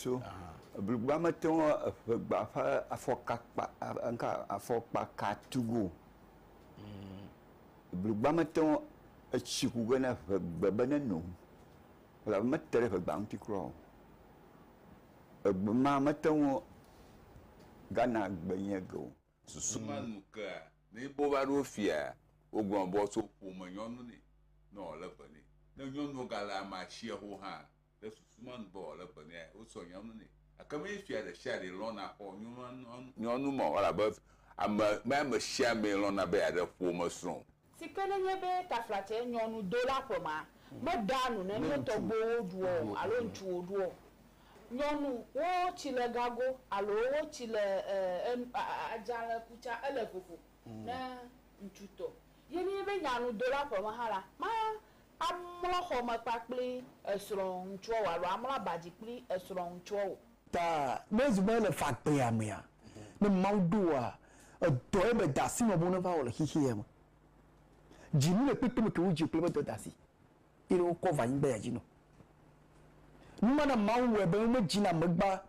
tso blugba mete ŋu eƒegba ƒe afɔkakpa ŋka afɔkpaka tu go. Mm. Blugba mete ŋu etsi ku ge ne ƒegbe be ne no. Elabe mete ɖe ƒegba ŋuti kura o. Egbe ma mete ŋu gana gbe nye ge o. Susu ma nu kea ne yi be wova ɖo fia wogblɔ be woatso ƒome nyɔnu nɛ ne wòle be nɛ. Ne nyɔnua gale ame asia ho hã Le susu me nu be wòale be nɛ, wosɔ nyɔnu nɛ. Gake menye fia ɖesiaɖee lɔ̃na xɔ nyɔnu me o, elabe ame menye amesiamee lɔ̃na be yeaɖe ƒomesrɔ̃ o. Si ke nenye be taflatse nyɔnu do la ƒemea, meɖea nu ne ne tɔgbuiwo ɖuɔ o alo ŋutsuwo ɖuɔ o. Nyɔnu, wo tsi le gago alo wo tsi le adzalẽ ku tsã, ele vovo ne ŋutsutɔ. Ye nenye be nyanu do la ƒeme hã la, Amlɔ xɔ me kpakpli esrɔ̃ŋutsuɔwo alo amlɔ aba dzi kpli esrɔ̃ŋutsuɔwo. Ta ne ezu be ele fagbeya mea, ne Mawu ɖo wòa, edɔ ebe dasi ma bo neva wɔ le xexeɛ me. Dzi mele kpekpe me ke wodzi wò kple ebe dɔdasi ye ɖe wokɔ va anyigba ya dzi nɔ. Nu ma na Mawu wɔɛ be wome dzi na megba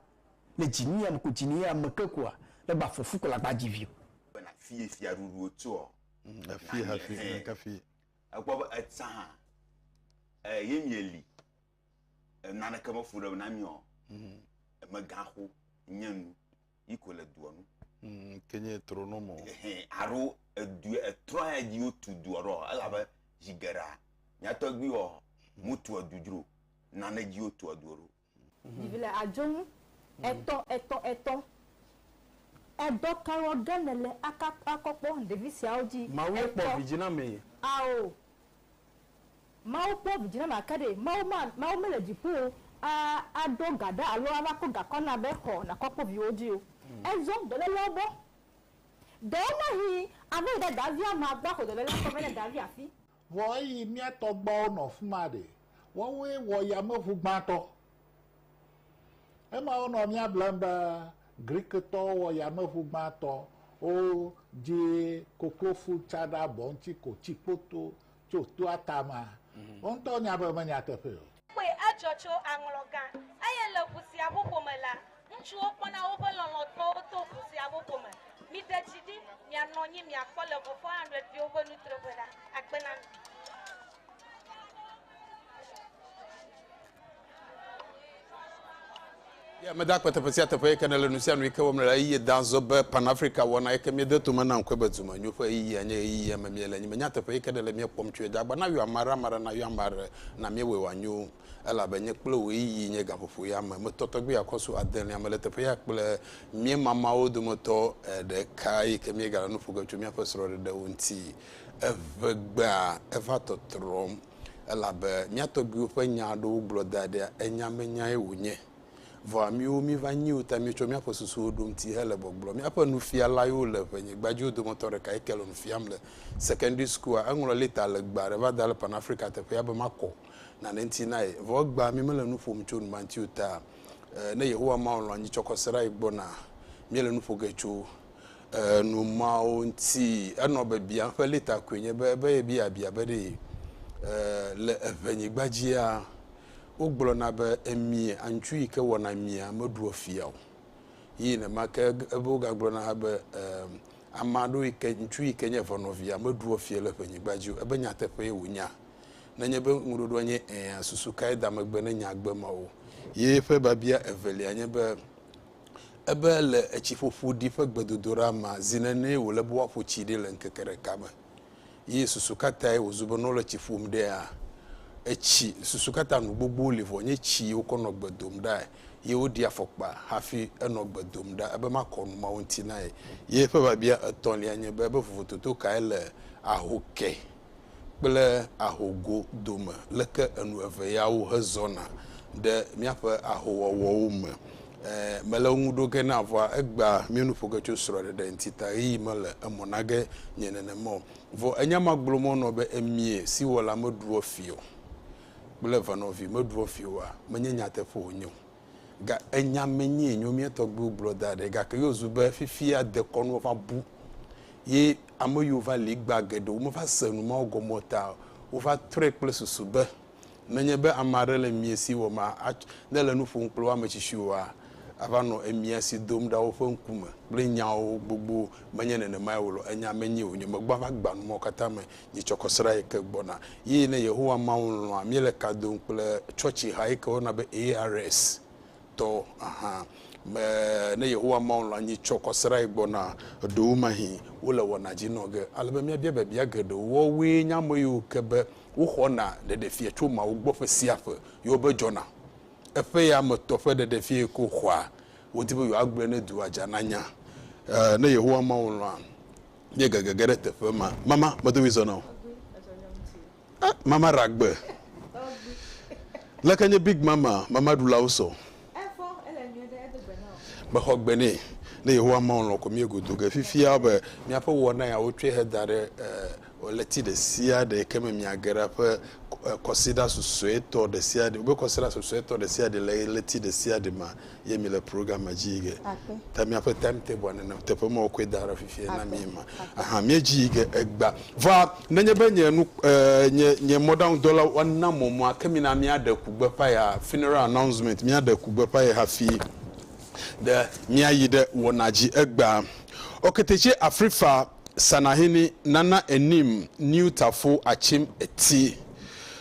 le dzi nuya me ko dzi nuya me ke koa, le gba fɔfu ko le agba dzi vi o. Bena fie fia ɖuɖuwo tsoɔ, na nye hɛn. Ekpɔ be etsã hã eh, ye mieli eh, naneke mefu ɖe na miɔ mm. megaxo nye nu yi ko le dua nu mm, ke nye trɔ no mo aro edu etrɔ ya dzi wotu dua ɖo elabe zi geɖa nyatɔgbiwɔ motu edu dzro nane dzi wotu edu ɖo Vivi le adzo ŋu etɔ etɔ etɔ. Edɔ ka wɔ ge ne le aka akɔ kpɔ ɖevi siawo dzi? Mawu ye kpɔ vidzi na mee. Ao. Mawu kpɔ vidzi na ma ke ɖe Mawu ma Mawu mele dziƒo o a aɖo ga ɖa alo ava kɔ gakɔ na be xɔ nakɔ kpɔ viwo dzi o. Ezɔ dɔlelewo gbɔ. Ɖewo mahii ava yi ɖe davia ma gbɔ axɔ dɔlele akɔ vɛ ne davia fi. Vɔ eyi mía tɔgbuawo nɔ fima ɖe, woawoe wɔ yameʋu gbãtɔ. Ema wonɔ mía blem be Grikitɔwo wɔ yameʋu gbãtɔ, wodzi koklofu tsa ɖe abɔ ŋuti ko tsi kpoto tso toa tame. Wo ŋutɔ wonya be menyateƒee o. Kpɔe, edzɔ tso aŋlɔ gã. Eye le ʋu sia ƒoƒo me la, ŋutsuwo kpɔna woƒe lɔlɔ̃tɔwo to ʋu sia ƒoƒo me. Miɖe dzi ɖi, mianɔ anyi, miakpɔ le ʋu 400 viwo ƒe nutroƒe ɖa. Akpe na mi. Ye ameda kpe teƒe sia teƒe yike nele nusianu yike wɔm nele ɣeyiɣie da zɔ be Pan Africa wɔna yike miede tome na ŋkɔe be dume nyo ƒe ɣeyiɣia nye ɣeyiɣia me miele nye me nyateƒe yike nele mie kpɔm tsoe da gba na yɔ amaɖe amaɖe na yɔ amaɖe na mie wɔe wɔanyo elabe nye kple wò ɣeyiɣi nye gaƒoƒo ya me me tɔtɔ gbia kɔsu adelea me le teƒe ya kple mie mamawo dometɔ ɖeka yike mie gale nuƒoge tso miaƒe srɔɖeɖewo ŋti eʋegbea eva tɔtrɔm elabe mía tɔgbuiwo ƒe nya aɖewo gblɔ da ɖea enyamenyae wònye. Vɔa míwo míva nyi wo ta míetsɔ míaƒe susuwo ɖo ŋuti hele gbɔgblɔm. Míaƒe nufialayo le ʋenyigbadziwo dometɔ ɖeka yi ke le nu fiam le sekɛndri sukua. Eŋlɔ lɛta legbe aɖe va da ɖe Pan-Afrika teƒea be makɔ nane ŋuti na ye. Vɔ egbea mí mele nu ƒom tso nu ma ŋuti o ta ne Yehowa Mawu lɔ̃ anyi tsɔkɔserae gbɔna. Míele nu ƒo ge tso numawo ŋuti. Enɔ biabiam ƒe lita koe nye be be yebia bia be ɖe le eŋenyigba dzia wogblɔna be emia aŋutsu yi ke wɔna emia meɖua fia o. Yi nenema ke ebe wogagblɔna hã be ame aɖewo yi ke ŋutsu yi ke nye eŋenɔvia meɖua fia le eŋenyigba dzi o. Ebe nyateƒee wònya. Nenye be ŋuɖoɖoa nye ɛ̃a, susu kae da megbe ne nya gbe mawo? Ye ƒe biabia evelia nye be ebe le etsiƒoƒo ɖi ƒe gbedodoɖa mea, zi nenee wòle be woaƒo tsi ɖi le ŋkeke ɖeka me. Ye susu ka tae wòzu be ne wole tsi ƒom ɖea, etsi, susu ka ta nu gbogbowo li vɔ nye tsi yi wokɔ nɔ gbe dom ɖae, ye woɖi afɔkpa hafi enɔ gbe dom ɖa, ebe makɔ nu mawo ŋuti na ye. Ye eƒe biabia etɔ̃lia nye be, ebe vovototo kae le aho ke? kple ahogo dome, leke enu eve yawo hezɔna ɖe míaƒe ahowɔwɔwo me. E, mele wo ŋu ɖo ge na vɔa egbea mía nu ƒo ge tso srɔ̃ɖeɖe ŋuti ta ɣeyiɣi mele emɔ na ge nye nenema o. Vɔ enya ma gblɔ mɔ nɔ be emie si wɔla meɖuɔ fi o kple venɔvi meɖuɔ fi oa, menye nyateƒe wònye o. Ga enya me nyee nyo mía tɔgbuiwo gblɔ da ɖɛ. Gake yo zu be fifia dekɔnuwo va bu ye ame yiwo va li egbea geɖe wo me va se nu mawo gɔme o ta wo va trɔe kple susu be nenye be ame aɖe le mia si wɔma ne le nu ƒom kple woa ame tsitsiwoa ava nɔ emia si dom ɖa woƒe ŋkume kple nyawo gbogbo menye nenemae o lɔ enya me nyee wonyo megbɔa va gba nu mawo katã me Mitsɔkɔ srã yi ke gbɔna. Ye ne Yehowa Mawu lɔ̃a, míele ka dom kple tsɔtsiha yi ke woyɔna be ARS tɔ hã. Me, ne Yehowa Mawu lɔ̃a, nyi tsɔkɔ srã yi gbɔna. Ɖewomahĩ wole wɔna dzi nɔ ge ale be míabia biabia geɖewo. Woawoe nye ame yiwo ke be woxɔna ɖeɖefia tso Mawu gbɔ ƒe sia ƒe. Yewo be dzɔna. Eƒe ya me tɔ ƒe ɖeɖefia yi ke woxɔa, wodi be yewoagblɔe ne dua dza nanya. Ɛɛ, ne Yehowa Mawu lɔ̃a, míegege ge ɖe teƒe ma. Mama, medo ɣli zɔ na wò. Eh, mama ɖe agbe. Leke nye Big Mama, mama ɖulawo sɔ. Mexɔ gbe nɛ. Ne Yehowa Mawu lɔ̃ ko míegodo ge. Fifia be míaƒe wɔna ya wotsɔe heda ɖe eh, ɣleti ɖe sia ɖe ke me miage ɖa ƒe eh, kɔsiɖa susuetɔ ɖe sia ɖe. Wobe kɔsiɖa susuetɔ ɖe sia ɖe le ɣleti ɖe sia ɖe me ye mi le program me dzi ge ta miaƒe time table nene teƒe me wokɔe da ɖe fifia na mi ma aha mi dzi ge egba va nenye be nye nu eh, nye nye mɔɖaŋu dɔla wana mɔ mɔ ake mi na mi aɖe kugbe pa ya funeral announcement mi aɖe kugbe pa ya hafi ɖe mi ayi ɖe wɔna dzi egba ɔketetse afrifa sanahini nana enim niu tafo atsim eti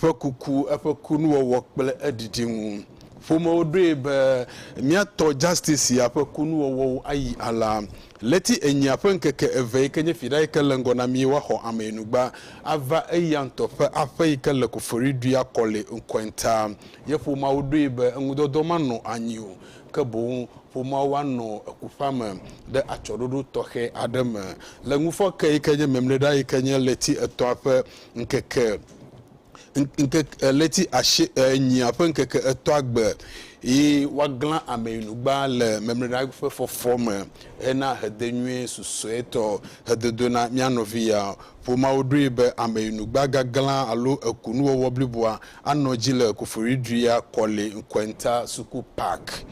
ƒe kuku, eƒe kunuwɔwɔ kple eɖiɖi ŋu. Ƒomewo ɖoe be mía tɔ Justice ya ƒe kunuwɔwɔwo ayi alea. Ɣleti enyia ƒe ŋkeke eve yi ke nye Fiɖa yi ke le ŋgɔ na mí woaxɔ ameyinugba ava eya ŋutɔ ƒe aƒe yi ke le Kofori Dua Kɔli ŋkɔe ta. Ye ƒomeawo ɖoe be eŋudɔdɔ manɔ anyi o ke boŋ ƒomeawo anɔ ekuƒea me ɖe atsɔɖoɖo tɔxɛ aɖe me. Le ŋufɔke yi ke nye Memleɖa yi ke nye ɣleti etɔ̃a ƒe ŋkeke, ŋkeke, ɣleti ashi, enyia ƒe ŋkeke etɔ̃a gbe, yi woaglã ameyinugba le mɛmlɛɖa ƒe fɔfɔ me hena hedenyuie susuɛtɔ hedodo na mía nɔvi ya. Ƒomeawo ɖoe be ameyinugba gaglã alo ekunuwɔwɔ bliboa anɔ edzi le Koforidui ya kɔli ŋkɔɛnta suku park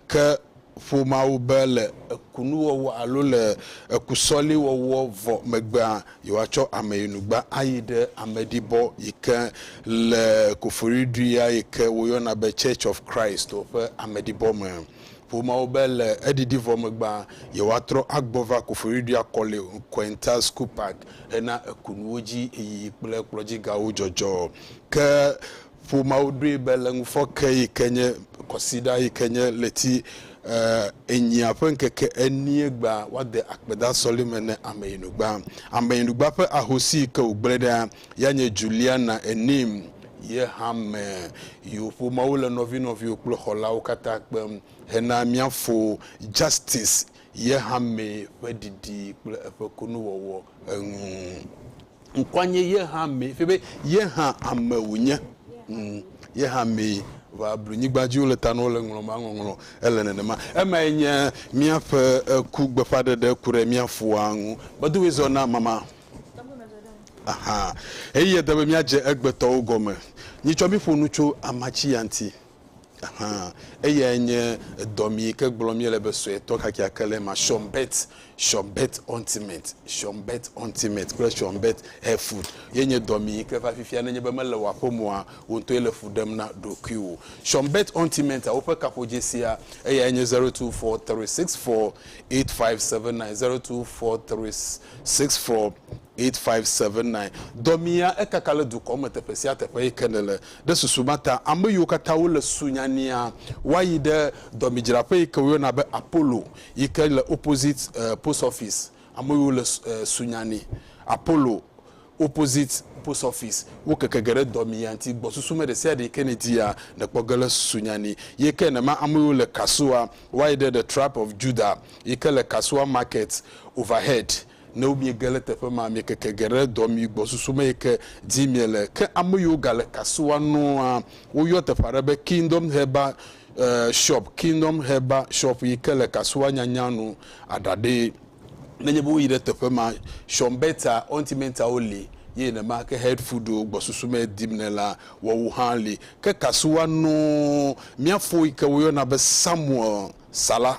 ke. ƒo Mawu be le ekunuwɔwɔ alo le ekusɔliwɔwɔ vɔ megbea, yewoatsɔ ameyinugba ayi ɖe ameɖibɔ yi ke le Koforidua yi ke woyɔna be Church of Christ o ƒe ameɖibɔ me. Ƒo Mawu be le eɖiɖi vɔ megbea, yewoatrɔ agbɔ va Koforidua Kɔli Quental School Park hena ekunuwo dzi yiyi kple kplɔdzigawo dzɔdzɔ. Ke Ƒomeawo ɖoe be le ŋufɔke yi ke nye kɔsiɖa yi ke nye ɣleti enyia ƒe ŋkeke enie gbea, woade akpedã sɔleme ne Ameyinugba. Ameyinugba ƒe ahosi yi ke wògblẽ ɖa ya nye Juliana Enim. Ye hã me yiwo ƒomeawo le nɔvinɔviwo kple xɔlawo katã kpem hena mía fo Justice ye hã mee ƒe ɖiɖi kple eƒe kunuwɔwɔ eŋu. ŋkɔa nye yehã mee fia be yehã ame wònye mm, yehã mee va blu nyigba dzi wole ta na wole ŋlɔ ma ŋɔŋlɔ ele nenema emae nye míaƒe ku gbeƒãɖeɖe ku ɖe mía foa ŋu medoe zɔ na mama aha eye ede be míadze egbetɔwo gɔme nyitsɔ mí ƒo nu tso amatsiya ŋuti. Hã. Eyae nye edɔ mi yi ke gblɔm míele be suetɔ kakeake le ema, Shumbet, Shumbet Ointment, Shumbet Ointment kple Shumbet Hair Food. Ye nye dɔ mi yi ke va fifia nenye be mele wò aƒe me oa, wò ŋutɔe le fu ɖem na ɖokuiwò. Shumbet Ointment-a, woƒe kaƒodzesia, eyae nye zero two four three six four eight five seven nine, zero two four three six four 8579. Dɔ mia ekaka le dukɔ me teƒe sia teƒe eyi ke nèle. Ɖe susu ma ta, ame yiwo katã wole sunya nia, woayi ɖe dɔmidzraƒe yi ke woyɔna be Apollo yi ke le opposite post office. Ame yiwo le sunya ni, Apollo, opposite post office. Wo keke ge ɖe dɔmia ŋuti. Gbɔsusume ɖe sia ɖe yi ke nèdia, nèkpɔ ge le sunya ni. Ye ke nema ame yiwo le Kasoa, woayi ɖe The Tribe of Judah yi ke le Kasoa Market, Overhead, Ne miege le teƒe ma, miekeke ge ɖe dɔ mi gbɔ susu me yi ke dim miele. Ke ame yiwo gale kasia nua, woyɔ teƒe aɖe be Kingdom Herbal Shop, Kingdom Herbal Shop, yi ke le kasia nyanya nu aɖaɖee. Nenye be woyi ɖe teƒe ma, Shonbeta, Ontimentawo li ye nenema ke Head Foodwo gbɔ susu me dim nɛ la, woawo hã li. Ke kasia nua, mía fo yi ke woyɔna be Samuel Salah.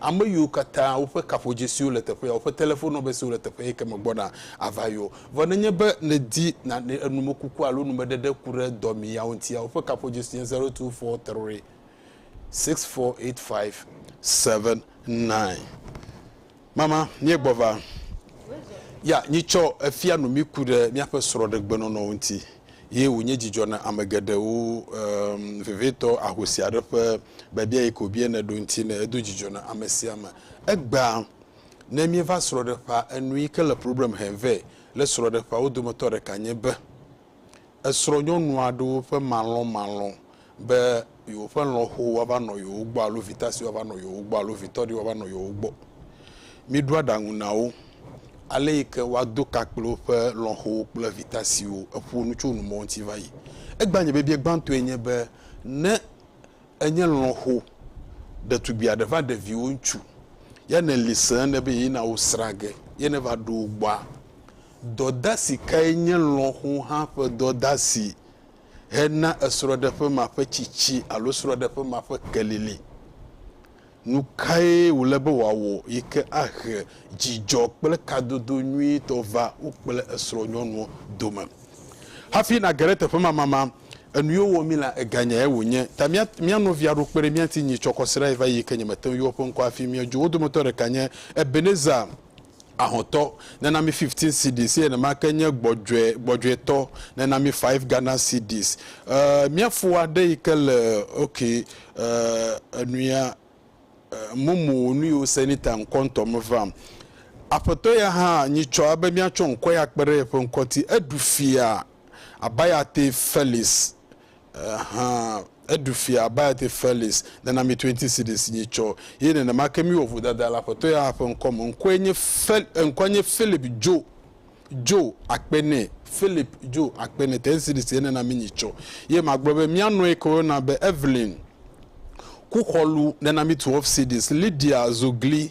Ame yiwo katã woƒe kaƒodzesiwo le teƒe ya, woƒe telefon nɔmbersiwo le teƒe yi ke me gbɔna ava yio. Vɔ nenye be nèdi nane, enumekuku alo numeɖeɖe ku ɖe dɔmee yawo ŋutia, woƒe kaƒodzesi nye zero two four three six four eight five seven nine. Mama, míegbɔ va. Ya, nyitsɔ efia nu mí ku ɖe míaƒe srɔ̃ɖegbenɔnɔwo ŋuti. ye wònye dzidzɔ na ame geɖewo um, vevitɔ ahosi aɖe ƒe biabia yi ke wòbia ne ɖo ŋuti ne edo dzidzɔ na ame sia ame. Egbea, ne míeva srɔ̃ɖeƒea, enu yi ke le problem hem vɛ le srɔ̃ɖeƒea wo dometɔ ɖeka nye be, esrɔ̃nyɔnu aɖewo ƒe malɔmalɔ be yewoƒe lɔ̃xo woava nɔ yewo gbɔ alo vitasi woava nɔ yewo gbɔ alo vitɔɖi woava nɔ yewo gbɔ. Míɖo aɖaŋu na wo ale yi ke woado ka kple woƒe lɔ̃xowo kple vitasiwo. Eƒo nu tso numɔwo ŋuti va yi. Egbea nye biabia gbãtɔe nye be ne enye lɔ̃xo ɖetugbui aɖe va ɖe viwò ŋutsu ya nèli se ene be yina wo srã ge ye neva ɖo wo gbɔa, dɔdasi kae nye lɔ̃xo hã ƒe dɔdasi? hena esrɔ̃ɖeƒe ma ƒe tsitsi alo srɔ̃ɖeƒe ma ƒe kelili. Nu kae wòle be wòawɔ yi ke ahe dzidzɔ kple kadodo nyuitɔ va wo kple esrɔ̃nyɔnua dome? Hafi nàge ɖe teƒe ma mama enu ye wowɔ mí la, eganyae wònye. Ta mía, mía nɔvia ɖo kpe ɖe mía ŋuti nyitsɔ kɔ srãe va yi yi ke nyemete ŋu yɔ eƒe ŋkɔ hafi míedzo. Wo dometɔ ɖeka nye Ebenezer. Ahotɔ, nena mi fifteen cedis, eye nenamake nye gbɔdzɔe, gbɔdzɔetɔ, nena mi five Ghana cedis. Ee, mía fo aɖe yi ke le, ok, ee, enuya, ee, mumu wò nu yi wò se ni ta ŋkɔ ŋutɔ meva. Aƒetɔ ya hã nyitsɔ ebe míatsɔ ŋkɔ ya kpe ɖe yeƒe ŋkɔ ŋuti. Eɖu fia, Abayate Felix, hã eɖu fia baya te Felix, nana mi twenty cedis nyi tsɔ ye nenemake mi wɔ vodada le aƒetɔ ya hã ƒe ŋkɔ me, ŋkɔe nye Fel, eŋkɔa nye Philip Djo, Djo akpe nɛ, Philip Djo akpe nɛ, ten cedis ye nena mi nyi tsɔ ye ma gblɔ be mia nɔe ke woyɔna be Evelyn Kuxɔlu nena mi twelve cedis, Lydia Zogli,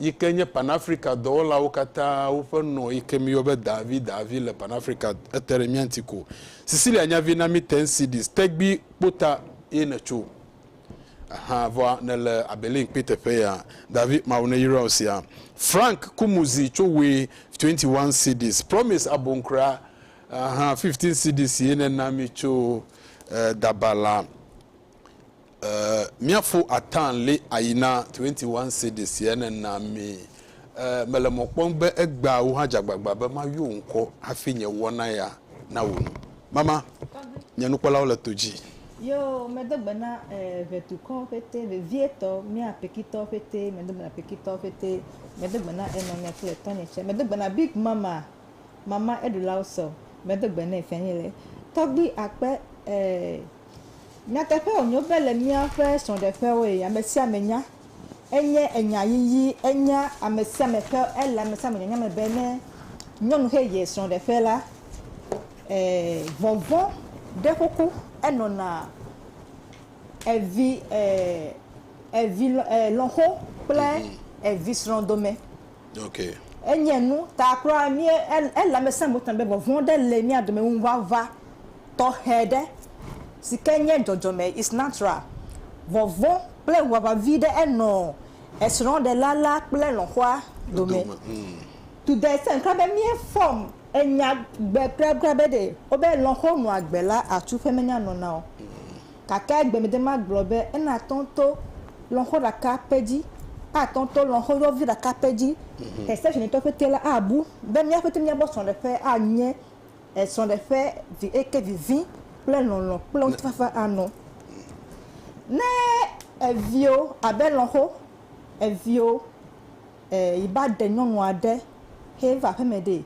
yi ke nye Pan-Afrika dɔwɔlawo katã woƒe nɔ yi ke míyɔ be Daavi, Daavi le Pan-Afrika ete ɖe mía ŋuti ko. Cecilia nya vi na mí ten cedis, tegbi kpota ye nètso ahan vɔa nèle Abelin kpi teƒe ya. Daavi, Mawu neyra wò sia. Frank Kumuzi tso Wui, 21 cedis. Promise Abonkra ahan, 15 cedis ye nèna mí tso Dabala. Ɛɛ, míaƒo ataa li ayi na Twenty One Cedis ye nena mí. Ɛɛ, mele mɔ kpɔm be egbea wò hã dze agbagba be mayɔ wò ŋkɔ hafi nye wɔna ya nawɔ nu. Mama, nye nukpɔlawo le to dzi. Yoo, medo gbe na, ɛɛ, ʋɛtukɔwo ƒete, vevietɔ, mía Pekitɔwo ƒete, medo gbe na Pekitɔwo ƒete, medo gbe na enɔnye kple tɔnye tsɛ, medo gbe na Big Mama, Mama Eɖulawo sɔ, medo gbe nɛ, Fianyele, tɔgbui akpe, ɛɛ. Nyateƒe wònyo be le míaƒe srɔ̃ɖeƒewoe, ame sia ame nya. Enye enya yiyi, enya ame sia ame ƒe, ele ame sia ame nyanya me be ne nyɔnu xe yie srɔ̃ɖeƒe la, ee, vɔvɔ̃ ɖe xoxo enɔna evi, ee, evi lɔ, ee, lɔ̃xo kple evisrɔ̃ dome. Enye nu ta kura mí ele ame sia ame ta be vɔvɔ̃ ɖe le mía dome ŋuʋaʋã tɔxɛ ɖe si ke nye dzɔdzɔme is natural. Vɔvɔ̃ kple ŋuʋaʋã vi ɖe enɔ esrɔ̃ɖela la kple lɔ̃xoa dome. To the extent kura be mí fɔm enya gbe kura kura be ɖe wobe lɔ̃xo nɔa gbe la atu ƒe menya nɔna o. Gake egbemede magblɔ be enatɔ to lɔnxo ɖeka pɛ dzi, atɔ to lɔnxo yɔvi ɖeka pɛ dzi. Xesetɔnitɔ pɛtɛ la abu be mía pɛtɛ míagbɔ srɔ̃ɖeƒe anye srɔ̃ɖeƒe vi eye ke vivi kple lɔlɔ̃ kple ŋutifafa anɔ. Ne eviwo abe lɔnxo, eviwo. E, yi ba ɖe nyɔnu aɖe he va aƒeme ɖee.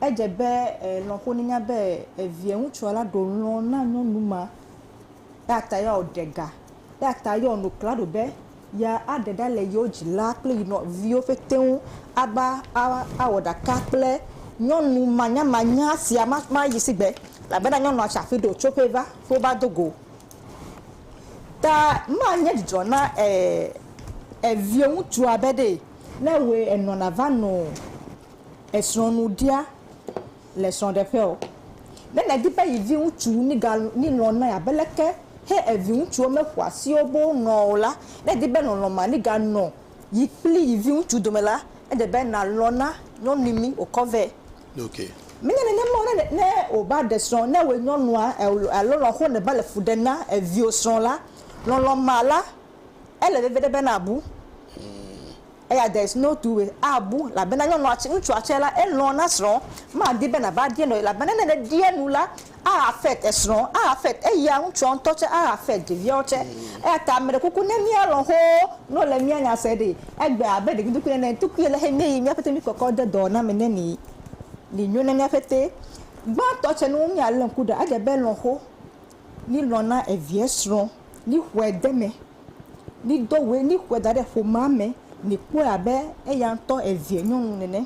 Edze be e, lɔ̃xo nenya be e, viɛ ŋutsua la ɖo lɔ̃ na nyɔnu ma. Eya ta ya o ɖe ga. Eya ta ya o no klaɖo be ya a ɖe ɖa le yio dzi la kple yi nɔ viwo ƒete ŋu a ba a a wɔ ɖaka kple nyɔnu manyamanya sia ma ma yi sigbe. Elabena nyɔnua tsi aƒi ɖe o tso ƒee va, ƒe o va do go. Ta ma nye dzidzɔ na eh eviɛ ŋutsua be ɖee. Ne wòe enɔ nava nɔ esrɔ̃ nu ɖia le srɔ̃ɖeƒe ɔ, ne nèdi be yi vi ŋutsu niga ni lɔ̃ nɛ abe leke he evi ŋutsuwo me ƒo asiwo be wo nɔ o la, ne èdi be lɔlɔ̃ ma niga nɔ yi kpli yi vi ŋutsu dome la, ele be nà lɔ̃ na nyɔnui mi wòkɔ vɛ. Nuke. Menye nenema o, ne, ne wòva ɖe srɔ̃ na wò nyɔnua, alo lɔ̃xo nèva le fu ɖem na viwò srɔ̃ la, lɔlɔ̃ ma la, ele veve ɖe be nàbu. Eya there is no two way, abu, elabena nyɔnua tsɛ, ŋutsua tsɛ la, elɔ̃ na srɔ̃, madi be nàva ɖia nu o, elabena ne nèɖia nu la, Axafet esrɔ̃, Axafet eya ŋutsua ŋutɔ tsɛ, Axafet ɖeviawo tsɛ. Eya ta meɖe kuku ne míalɔ̃ xoo ne wole mía nya se ɖe. Egbe abe ɖevi tukui nene. Tukui ale xe míeyi míaƒe tenuikɔkɔ de dɔ na mi ne mi li nyo na míaƒe te. Gbãtɔ tsɛ nu míalé ŋku ɖa edze be lɔ̃xo li lɔ̃ na evia srɔ̃ li xɔe de me li do ŋue li xɔe da ɖe ƒomea me li kpɔe abe eya ŋutɔ evia nyɔnu nene.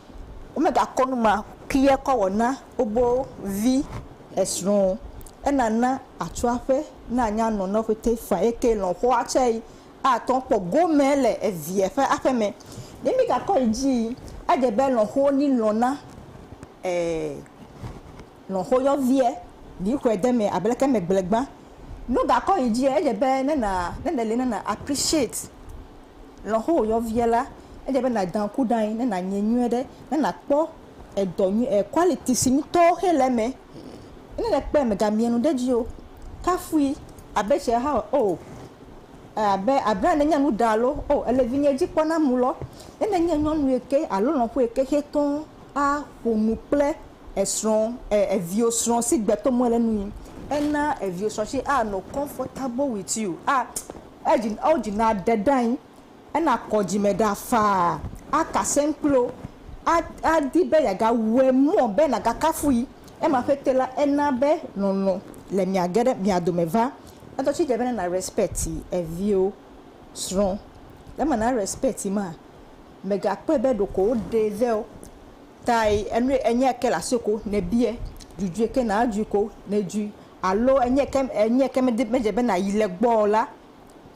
Womegakɔ nu ma ki ye kɔ wɔ na wobo vi esrɔ̃ o. Ena na atsɔ aƒe na anya nɔ nɔ ƒete fã ye ke lɔ̃ xɔa tsɛ yi atɔ kpɔ gome le eviɛ ƒe aƒe mɛ. Ne mi gakɔ yi dzi yi, edze be lɔ̃ xo ni lɔ̃ na ɛɛ. Lɔ̃ xoyɔviɛ, li xɔɛ de mɛ abe leke megble gbã. No gakɔ yi djiɛ, edje be ne na, ne neli ne na appreciate lɔ̃ xoyɔviɛ la, edje be na dan ku ɖain, ne na nyɛ nyuiɛ ɖe, ne na kpɔ edɔ nyui, e quality si ŋutɔ xe le emɛ. Ne le kpɔɛ me ga miɛ nu ɖe dji o, kafui abe tse ha o, e abe abla ne nye nu ɖa alo o, ele vinyɛ dji kpɔ na mu lɔ. Ne ne nye nyɔnuiɛ ke alo lɔ̃xoɛ ke xe tɔn a ƒonu kple esrɔ e eviwo srɔ si gbe to mele nu yi ena eviwo srɔ si a nɔ comfortable with you a edzi ao dzi na ɖe ɖe anyi ena kɔ dzime ɖa faa aka sɛm kple wo a adi be yaga wɛ mɔ be naga kafu yi ema ƒete la ena be lɔlɔ le mia ge ɖe mia dome va eŋtɔ tsi dze be na respect eviwo srɔ ema na respect ma mega kpɔɛ be ɖeko wo ɖe vɛ o. tae enue enye ke le asi ko ne bie dzudzɔe ke na dzui ko ne dzui alo enye ke enye ke me me dze be na yi le gbɔ la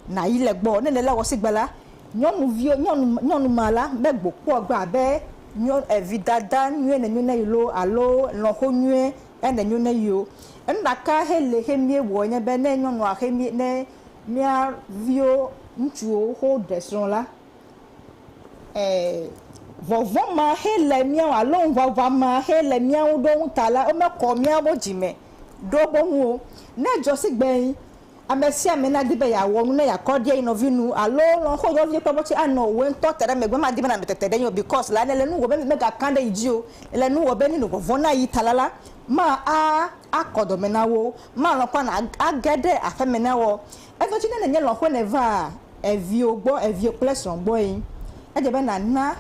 na yi le gbɔ ne le la wɔ sigbe la nyɔnuvio nyɔnu nyɔnu ma la me gbo kpɔ gbe abe nyɔ evi dada nyuie ne nyo ne yi loo alo lɔxo nyuie ene nyo ne yio enu ɖeka xe le xe mie wɔ enye be ne nyɔnua xe mie ne mia vio ŋutsuwo xo ɖe srɔ la Ɛɛ, vɔvɔ̃ ma xe le mía ŋu alo ŋuʋaʋã ma xe le mía ŋu ɖo ŋuta la, womekɔ míawo dzi me ɖo wo ŋu o. Ne edzɔ si gbe ame sia ame nadi be yeawɔ nu ne yeakɔ ɖi eyi nɔvi nu alo lɔ̃ xo nɔvi kple mɔ̃ tse anɔ wò ŋutɔ te ɖe megbe, madi be nànɔ tete ɖe eŋu o because la nèle nu wɔ be megakã ɖe yi dzi o. Nèle nu wɔ be ne nuvɔvɔ̃ na yi ta la la, ma a, akɔ dɔme na wo, malɔ̃ kpɔ na age ɖe aƒeme na wo. Eɖo edzi ne nenye lɔ̃xoe nèvaa eviwo gbɔ, eviwo kple srɔ̃ gbɔe, edze be nàna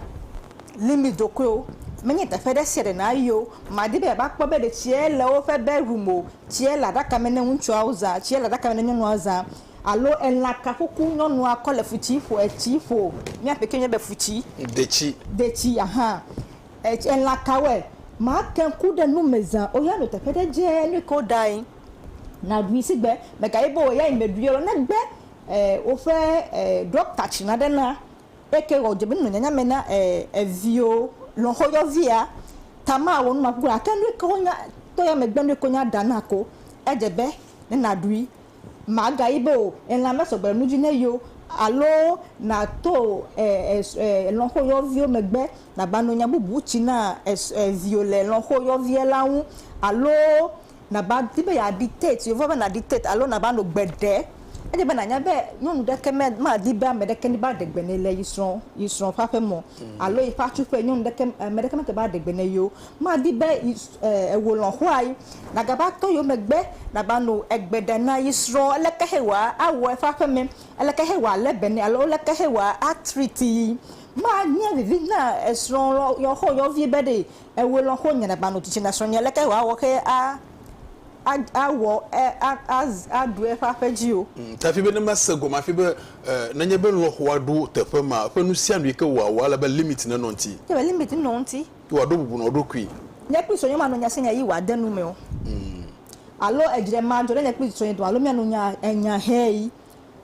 limit dokoewo. Menye teƒe ɖe sia ɖe nàyi o. Màdi be yeava kpɔ be ɖe tsie le woƒe bedroom o, tsie le aɖaka me ne ŋutsuawo zã, tsie le aɖaka me ne nyɔnua zã alo elã ka kuku nyɔnua kɔ le futsi ƒo, etsi ƒo, mía ƒe kee nye be futsi, detsi, detsi, aha, elã kawoe, màte ŋu ku ɖe nu me zã o, ya nɔ teƒe ɖe dze nu ke woɖae. naɖui sigbe megaye be oyayi meɖui ɔlɔ negbe e woƒe e ɖɔkta tsi naɖe na eke wɔ dze be nunɔ nyanya me na e eviwo lɔxɔ yɔvia tama wɔ numa kuku ake nu ke wonya to ya megbe nu ko nya ɖa na ko edze be ne naɖui magayi be o elã mesɔgbe nu dzi ne yo alo nato e elɔxɔ yɔvio megbe nagba no nya bubu tsi na es eviwo le lɔxɔ yɔvia la ŋu alo nàva di be yeadiktate, yewo va be nàdiktate alo nàva nɔ gbe ɖe. Ele be nànya be nyɔnu ɖeke me madi be ame ɖeke neva ɖe gbe nɛ le yi srɔ̃ yi srɔ̃ ƒe aƒe me o alo yi ƒe atsuƒe. Nyɔnu ɖeke ame ɖeke mete va ɖe gbe nɛ yio. Madi be yi e ewò lɔ̃xoa yi nagava tɔ yewo megbe nava nɔ egbe ɖe na yi srɔ̃ leke xe wòa awɔ eƒe aƒe me, leke xe wòa le be nɛ alo leke xe wòa a treat yi. Manye vivi na esrɔ̃ lɔ yɔxɔ yɔvi be ɖee Ewe lɔ xo nyɛ nagba nu tsitsi na srɔnyɛ leke wa wɔ xe a a a wɔ ɛ a a a ɖu eƒe aƒe dzi o. Tafi be ne ma se gɔme afi be e nenye be lɔ xo a ɖo teƒe ma eƒe nu sia nu yike wo a wɔ ele be limit ne nɔ ŋti. Ke be limit nɔ ŋti. Yi wa ɖo bubu nɔ ɖokui. Nye kple srɔnyɛ ma nu nya sia nya yi wa de nu me o. Alo edzre ma dzɔ ɖe nye kple srɔnyɛ dome alo mia nu nya enya hɛ yi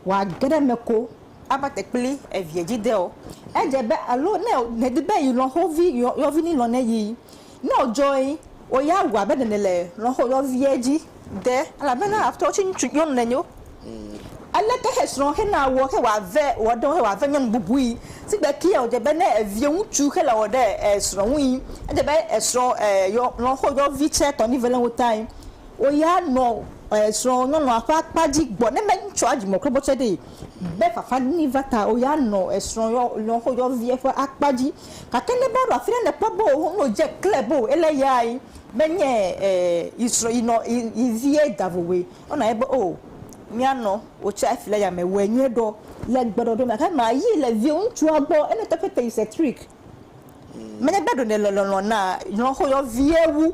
wòage ɖe eme ko ava te kpli eviɛ dzi ɖe o. Edze be alo ne nèdi be yi lɔ̃xovi yɔvi ni lɔ̃ ne yi. Ne wòdzɔe wò ya wɔ abe ɖe nèle lɔ̃xo yɔviɛ dzi ɖe elabena aƒetɔ tsi ŋutsu nyɔnu nenye o. Aleke xesrɔ̃ hena wɔ xe wòave wɔ ɖe ŋu xe wòave nyɔnu bubui? Si gbe kiɛ wòdze be ne eviɛ ŋutsu xe le wɔ ɖe esrɔ̃ ŋui, edze be esrɔ̃ lɔ̃xo yɔvi tsɛ tɔ ni ve le ŋuta. Wò ya nɔ srɔ̃lɔlɔ̃a ƒe akpa dzi gbɔ ne metsɔa dzimekpɔkpɔ tsɛ ɖee be fafa nini va ta wò ya nɔ srɔ̃yɔvia ƒe akpa dzi. Gake ne va ɖo afi ɖe nèkpɔ be wò hɔnɔ dze kle be wò ele ya ye menye yi srɔ̃ yi nɔ yi vie da vovoe o na ye be o mía nɔ wò tsɛ afi ɖe ya me wɔe nyuie ɖɔ le gbeɖɔɖɔ me gake ma yi le viwò ŋutsua gbɔ ene tɔƒe te yi setrik. Menye be ɖo nèle lɔlɔ̃ na lɔ̃xoyɔvie wu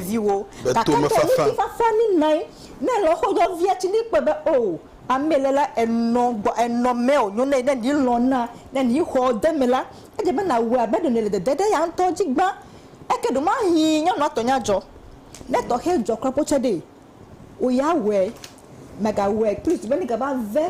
viwò o, gake ɖo ŋutifafa ni nae. Ne lɔ̃xoyɔvia tsi ni kpɔe be oo, amee le la, enɔ gbɔ, enɔ mewò nyo nɛ, ne ni lɔ̃ na, ne ni xɔ de eme la, edze be nàwɔe abe ɖo nèle dede ɖe ya ŋutɔ dzi gbã. Eke ɖo mahi nyɔnua tɔ nya dzɔ. Ne tɔxɛ dzɔ kura potsɛ ɖee, wò ya wɔe. Mègawɔe kpli o, si be negava ve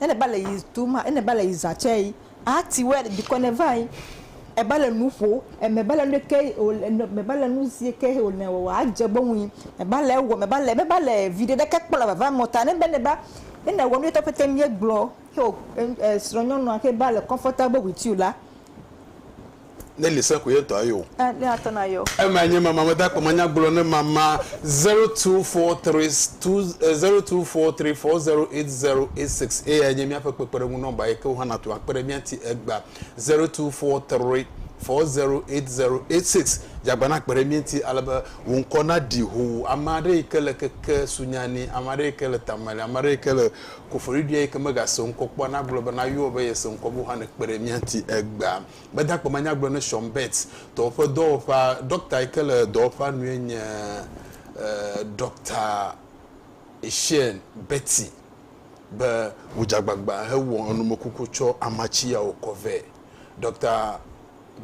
Ene ba le yi tu ma, ene ba le yi za tse yi. A ti wɛ le dikɔ ne va yi. E ba le nu ƒo, eme ba le nu ɖekɛ yi o le nɔ, me ba le nu zi ke yi o le wɔwɔ a dze gbɔ ŋui. Me ba le ewɔ, me ba le, me ba le viɖe ɖekɛ kpɔ le vava mɔ ta ne be ne ba, ne ne wɔ nu yetɔ ƒete ŋu ye gblɔ. Xeo e, e srɔ̃nyɔnua xe ba le comfortable with you la. Nelly se ko ye ŋtɔ ayo. Eh ne atɔ na yo. Ema nye mama me dakpe manya gblɔ ne mama zero two four three two eh zero two four three four zero eight zero eight six eyae nye míaƒe kpekpeɖeŋu nɔmba yi ke wò hã nàto akpe ɖe mía ti egba zero two four three four zero eight zero eight six dze agba na kpe ɖe mía ŋti ale be wò ŋkɔ na ɖi hoo ame aɖe yi ke le keke sunya ni ame aɖe yi ke le tame li ame aɖe yi ke le koforiɖia yi ke mega se ŋkɔ kpɔa na gblɔ be na yɔɔ be ye se ŋkɔ be wò hã ne kpe ɖe mía ŋti egba. Meda akpe manya gblɔ ne Sean Betts tɔwo ƒe dɔwɔƒea ɖɔkta yi ke le dɔwɔƒea nue nye Ɖɔkta Sean Betty be wòdze agbagba hewɔ enumekuku tsɔ amatsi yawo kɔ vɛ. Ɖɔkta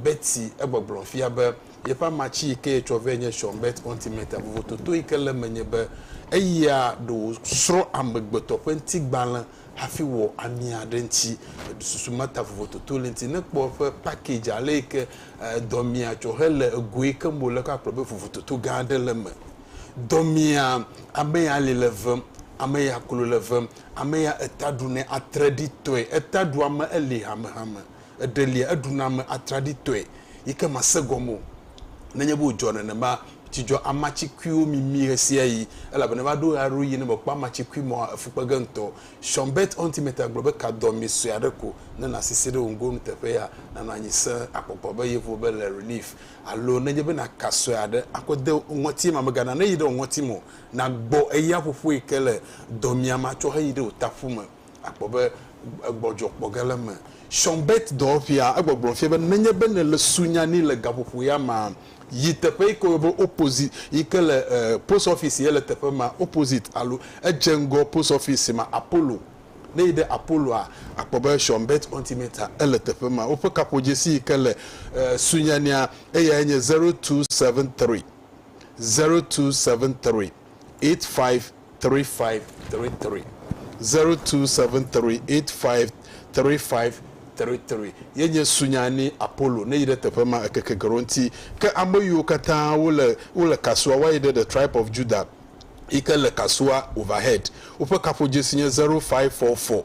Betty egbɔgblɔm fia be yeƒe amatsi yi ke yetsɔ vɛ nye Sean Betts Ontimeta. Vovototo yi ke le eme nye be eya ɖe wòsrɔ̃ amegbetɔ ƒe ŋutigbalẽ hafi wɔ ami aɖe ŋuti. Eɖu susu Martha vovototo le eŋuti. Ne ekpɔ eƒe package ale yi ke dɔmea tsɔ hele ego yi kem wòle kɔ akplɔ be vovototo gã aɖe le eme. Dɔmea, ame ya ali le vem, ame ya klo le vem, ame ya eta ɖu nɛ atreɖitɔe. Eta ɖua ame eli hamehame. Eɖelia, eɖuna ame atraɖitɔe yi ke màse gɔme o. Nenye be wòdzɔ nenema, tsi dzɔ amacikuiwo mimi ɣesiaɣi, elabena eva ɖo ɣeaɖewoɣi ne mèkpɔ amacikui mɔ hã, efu kpe ge ŋutɔ. Sean Burt Untimeter gblɔ be, Ka dɔ mi sue aɖe ko ne nàsi se ɖe wò ŋgonu teƒe ya, nànɔ anyi sẽ, akpɔkpɔ be yevo be le Relief, alo nenye be nàka sue aɖe akɔ de wò ŋɔti ema mègana neyi ɖe wò ŋɔti me o, nàgbɔ eya ƒoƒoe ke le dɔmiame atsɔ heyi ɖe wò taƒu me. Akpɔ be gbɔdzɔ kpɔ ge le eme. Sean Burt dɔwɔƒea, egbɔgblɔ fia be nenye be nèle su nya ni le gaƒoƒo ya mea, yi teƒe yi ke woyɔ be opposite, yi ke le post office si ele teƒe ma, opposite alo edze ŋgɔ post office si ma, Apollo. Ne èyi ɖe Apollo-a, àkpɔ be Sean Burt Ontimeter ele teƒe ma. Woƒe kaƒodzesi yi ke le sunyania, eyae nye zero two seven three, zero two seven three. eight five three five three three zero two seven three eight five three five three three ye nye sunya ni Apollo ne yi ɖe teƒe ma ekeke gero ŋuti ke ame yiwo katã wo le wo le kasua wa yi ɖe the tribe of Judah yi ke le kasua overhead woƒe kaƒodzesi nye zero five four four.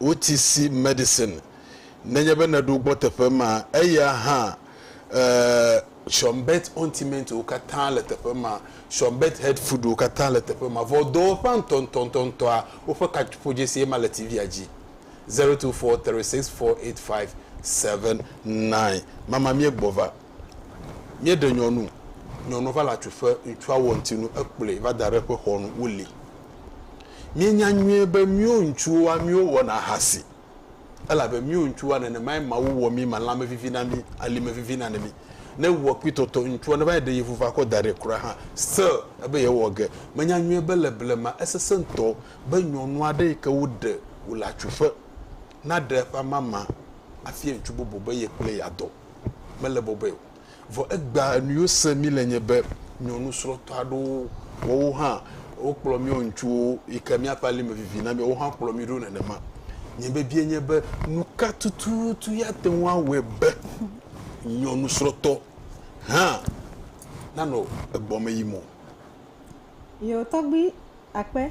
OTC medicine nenye be nèɖo gbɔ teƒe ma, eya hã eh. Shonbet Ontimento wo katã le teƒe ma, Shonbet Head Food wo katã le teƒe ma. Vɔ dɔwɔƒea ŋtɔŋtɔŋtɔa, woƒe kaƒodzesi ye ma le TV-a dzi, zero two four three six four eight five seven nine. Mama míegbɔ va. Míeɖe nyɔnu, nyɔnua va le atsuƒe, ŋutsua wɔ ŋutinu, ekplɔe va da ɖe eƒe xɔ nu, wolée. Míenya nyuie be míwo ŋutsuwoa, míwo wɔna ahasi, elabe míwo ŋutsuwoa, nenemae Mawu wɔ mí me, lãme vivi na mí, alime vivi na mí. Ne ewɔ kpitɔtɔ, ŋutsua neva yi ɖe ye ŋu va kɔ da ɖɛ kura hã, still ebe yewɔ ge. Menya nyuie be le blema, esesẽ ŋutɔ be nyɔnu aɖe yike woɖe wòle atsuƒe. naɖe eƒe amama afia ŋutsu bubu be ye kple yeadɔ. Mele bɔbɔe o. Vɔ egbea nuyiwo sem mí le nye be nyɔnusrɔ̃tɔ aɖewo, woawo hã wokplɔ míawo ŋutsuwo yi ke míaƒe ali me vivi na mí, woawo hã kplɔ mí ɖo nenema. Nye biabia nye be nuka tututu ye ate ŋu awɔe be nyɔnusrɔ̃tɔ hã nanɔ egbɔmeyim o? Yewo tɔgbui akpe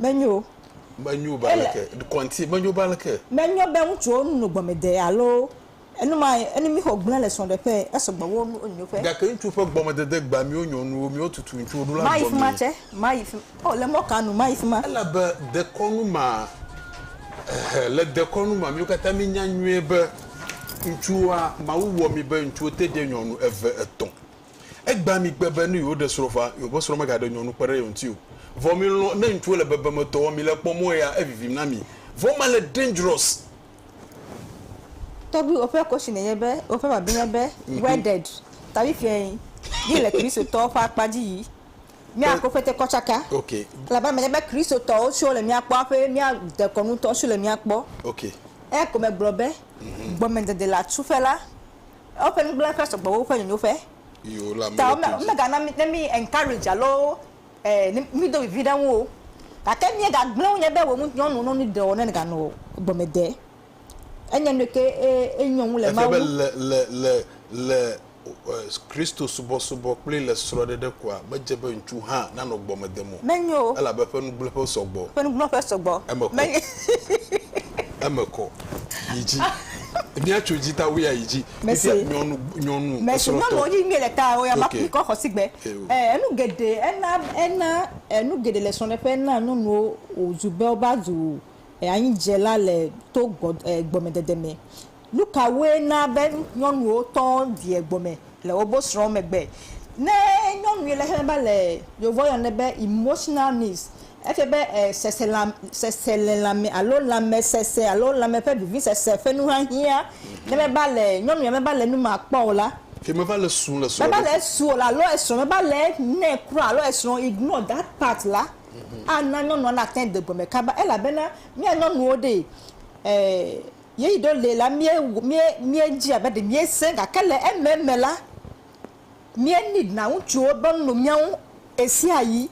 Menyo. Menyo be Ele- aleke. Kɔnti, menyo be aleke. Menyo be ŋutsuwo nu no gbɔmede alo enu ma enu mi xɔ gblẽ le srɔ̃ɖeƒe esɔgbɔ wo nu onyo ƒe. Gake ŋutsu ƒe gbɔmedede gba miwo nyɔnuwo, miwo tutu ŋutsuwo ɖo la Mayi fi ma gɔmee. tse. Mayi fi ma. O, le mɔ ka nu? Mayi fi ma. Elabe dekɔnu ma, ɛhɛ, le dekɔnu ma, miwo katã minya nyuie be ŋutsuwoa, Mawu wɔ mi be ŋutsuwo te ɖe nyɔnu eve, etɔ̃. Egbea migbe be ne yewoɖe srɔ̃ ƒea, yewoƒe srɔ̃ megaɖe nyɔnu kpe ɖe ye ŋuti o. Vɔ milɔ̃ ne ŋutsuwo le bebemetɔ wɔm mile kpɔ mɔ ɣea evivim na mi. Vɔ mele dangerous. Tɔgbuiwo ƒe question nye be woƒe bible nye be wedded ta fifiae ye le Kristotɔwo ƒe akpa dzi yi mía prophet kɔ tsaka elabe eme nye be Kristotɔwo tso le mía kpɔ aƒe mía dekɔnutɔwo tso le mía kpɔ. Eya ko megblɔ be gbɔmedede le atsuƒe la Eƒe nugblẽƒe sɔgbɔ wu woƒe nyonyoƒe. Ta womegana ne mí encourage alo mído vivi ɖe eŋu o. Gake míegagblẽ wo nya be wò ŋu nyɔnu nɔ nu ɖe wɔ ne ganɔ gɔme de. Enye nue ke ye nyɔnu le Mawu. Efia be le, le, le, le Kristo subɔsubɔ kple le srɔ̃ɖeɖe koa, medze be ŋutsu hã nanɔ gbɔme dem o. Menyo o. Elabe eƒe nugblẽƒe sɔgbɔ. Eƒe nugblẽƒe sɔgbɔ. Eme kɔ. eme kɔ yi dzi. Mía tso dzi ta wuia yi dzi. Fifia nyɔnu nyɔnu esrɔtɔ. Mesi nyɔnuwo dzi mie le ta woya ma mi kɔ xɔsi gbe. Enu geɖe ena ena enu geɖe le srɔɖeƒe ena nyɔnuwo wo zu be wo va zu anyi dze la le to gbɔ gbɔme dede me. Nu ka woe na be nyɔnuwo tɔ vie gome le wobo srɔ̃ megbe? Ne nyɔnui le xexlẽ be le Yevua yɔnɛ be emotional needs, efia be e seselam seselelãme alo lãmesese alo lãme ƒe vivisese ƒe nuhiahiã. Ne meva le nyɔnuia meva le nu ma kpɔ o la, Ke meva le su le srɔ̃ meva le ɖoku. esu o la alo esrɔ̃ meva le enɛ kura alo esrɔ̃ ignore that part la, ana nyɔnua nate ŋu de gome kaba elabena mía nyɔnuwo ɖee e. Yeyi ɖo lee la, míe, míe, míedzi abe ɖe míesẽ, gake le ememe la, míe need na ŋutsuwo be nu mía ŋu ɣesiaɣi.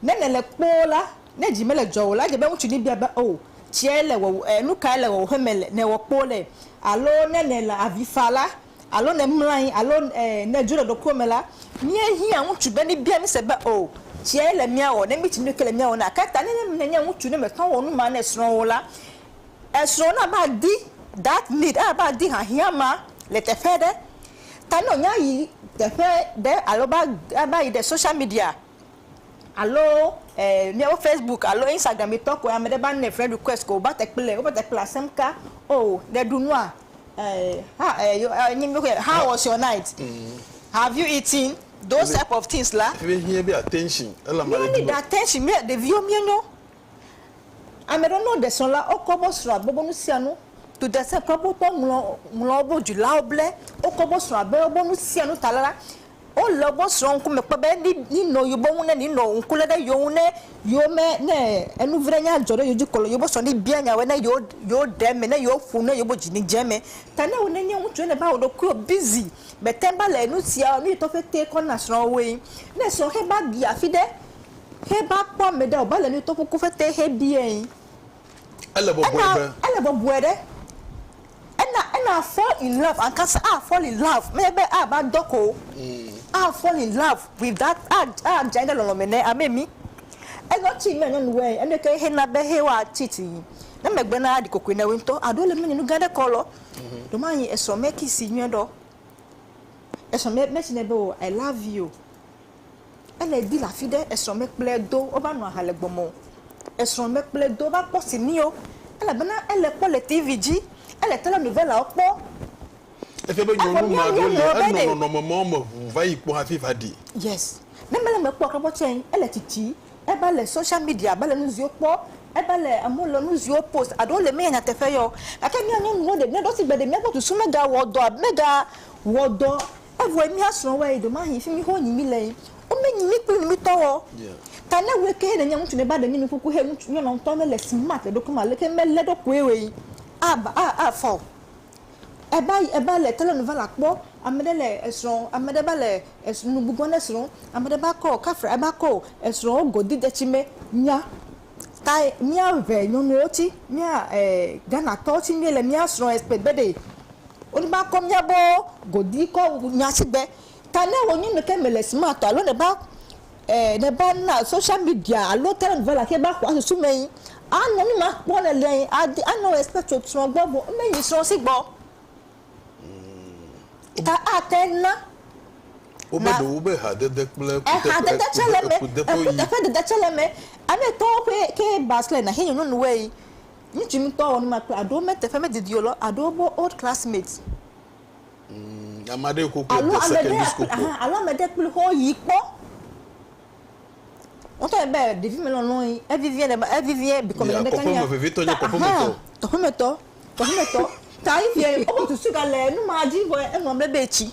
Ne nèle kpoo la, ne dzi mele dzɔwò la, edze be ŋutsu nibia be, Oo, tsiae le wɔwɔ, e, nukae le wɔwɔ ƒe me le, nèwɔ kpoo le? Alo ne nèle avi fa la, alo ne mlɔ anyi, alo, e, nèdzo le ɖokuiwò me la, míehiã ŋutsu be nibia mí se be, Oo, tsiae le míawɔ, ne mítsi nuke le míawɔ na. Ke ta ne, ne nènye ŋutsu ne mètɔ wò nu ma ne srɔ̃wò la, Esrɔ̃ na va di that need eye va di hiahiã ma le teƒe aɖe. Ta ne wònya yi teƒe ɖe alo va va yi ɖe social media alo e míaƒe Facebook alo Instagram mi tɔ ko ame ɖe va nɛ friend request ko wòva te kple wova te kple asem ka o ɖe ɖu nua e ha e yo e nyi mi yɔe how was your night have you eaten those type of things la. Míehiã eƒe attention elabe ale Míe di need be. attention mía ɖeviwo míenyo. Ame ɖewo nɔ ɖe srɔ̃ la wokɔ bo srɔ̃ abe bo nu sia nu. Dudasɛ kple bo tɔ ŋlɔ ŋlɔ bo dzilawo ble wokɔ bo srɔ̃ abe bo nu sia nu ta la, wo le bo srɔ̃ ŋku me kpɔ be ni ni nɔ yo bo ŋu ne ni nɔ ŋku le ɖe yo ŋu ne yo me ne enu vi ɖe nya dzɔ ɖe yo dzi kɔ yo bo srɔ̃ ni bia nya woe ne yo yo ɖe me ne yo ƒo ne yo bo dzi ni dze me. Ta ne wo ne nye ŋutsu ne va wo ɖokuiwo bizi me te ŋ va le nu sia nu yi tɔ ƒete kɔ na srɔ̃ woe. Ne srɔ̃ xe va bia fi ɖe He ba kpɔ ame ɖe o ba le nu tɔƒu ku fete he biɛ ŋ. Ele bɔbɔe Ena be. ele bɔbɔe ɖe. Ena ena fall in love ankasa a fall in love menye be a va dɔ ko o. A fall in love with that a a dze anyi ɖe lɔlɔ me ne ame mi. Enyɔ ci mia nyɔnu wɛ enu ke he na be he wa cheat yi ne megbe na a ɖi kokoe na wo ŋtɔ a ɖo le me nyi nu gã ɖe kɔ lɔ. Ɖo ma nyi esɔ me kiss nyuie ɖɔ. Esɔ me me ci nɛ be o i love you. Ele di le afi ɖe esrɔ̃ mekplɔe do wova nɔ aha le gbɔ me o. Esrɔ̃ mekplɔe do va kpɔ sini o elabena ele kpɔ le tivi dzi. Ele telenovelawo kpɔ. Efia be nyɔnu ma ɖo li enɔ nɔnɔme mawo me ŋu va yi kpɔ hafi va ɖi. Yes. Ne mele eme kpɔ o kpɔ tsɛ ele tsitsi eva le social media va le nu ziwo kpɔ. Eva le amewo le nu ziwo post aɖo le menye nyateƒe ye o. Gake mía nyɔnuwo ɖe mía ɖo sigbe ɖe mía gbɔ susu mega wɔ dɔ mega wɔ dɔ Evɔe mía srɔ̃woe yi ɖomahi fimi xo nyi mí le yi. Wo me nyi mí kpli mí tɔ wɔ. Ta ne wue ke ne nye ŋutsu ne ba ɖe mí nu kuku he ŋutsu nyɔna ŋutɔ le le smart le ɖokui me aleke me le ɖo kue we yi a ba a a fa o. Eba yi eba le tele nu va la kpɔ ame ɖe le esrɔ̃ ame ɖe ba le esrɔ̃ nu gbugbɔ ne srɔ̃ ame ɖe ba kɔ kafra eba kɔ o esrɔ̃ wo go di detsi me mía tae mía ʋe nyɔnuwo tsi mía e Ghana tɔwo tsi mí le mía srɔ̃ expect be ɖe Woneva kɔ mía gbɔ godui kɔ nya si gbe. Ta ne wò nyɔnu ke mele smart o alo nèva, e, nèva na social media alo talent vala ke va xɔa susu me yi, anɔ nu ma kpɔ nèlia yi adi anɔ wò expect tso srɔ̃ gbɔ vɔ ne yi srɔ̃ si gbɔ ta ate ŋu na. Wobe ɖewo be hadede kple kuteƒe kuteƒe yi. Kuteƒe dede tse le eme. Ame etɔ̃wo ƒe ke ba srɔ̃e na xe nyɔnunuwoe yi. Ŋutsu ŋutɔ wɔ numa kple aɖo me teƒe me didi o lɔ aɖo wobo old classmate. Umm ame aɖe ko kple de secondary school kpɔ. Alo ame ɖe kple xɔ yi kpɔ. Wotɔ ye be ɖevi me lɔlɔ yi evivi ɖe me evivi bikɔ me ɖe kanya. Kɔƒe me vevitɔ nye kɔƒe me tɔ. Kɔƒe me tɔ kɔƒe me tɔ ta yi fia yi obo susu ga le numa dzi vɔ enua me be etsi.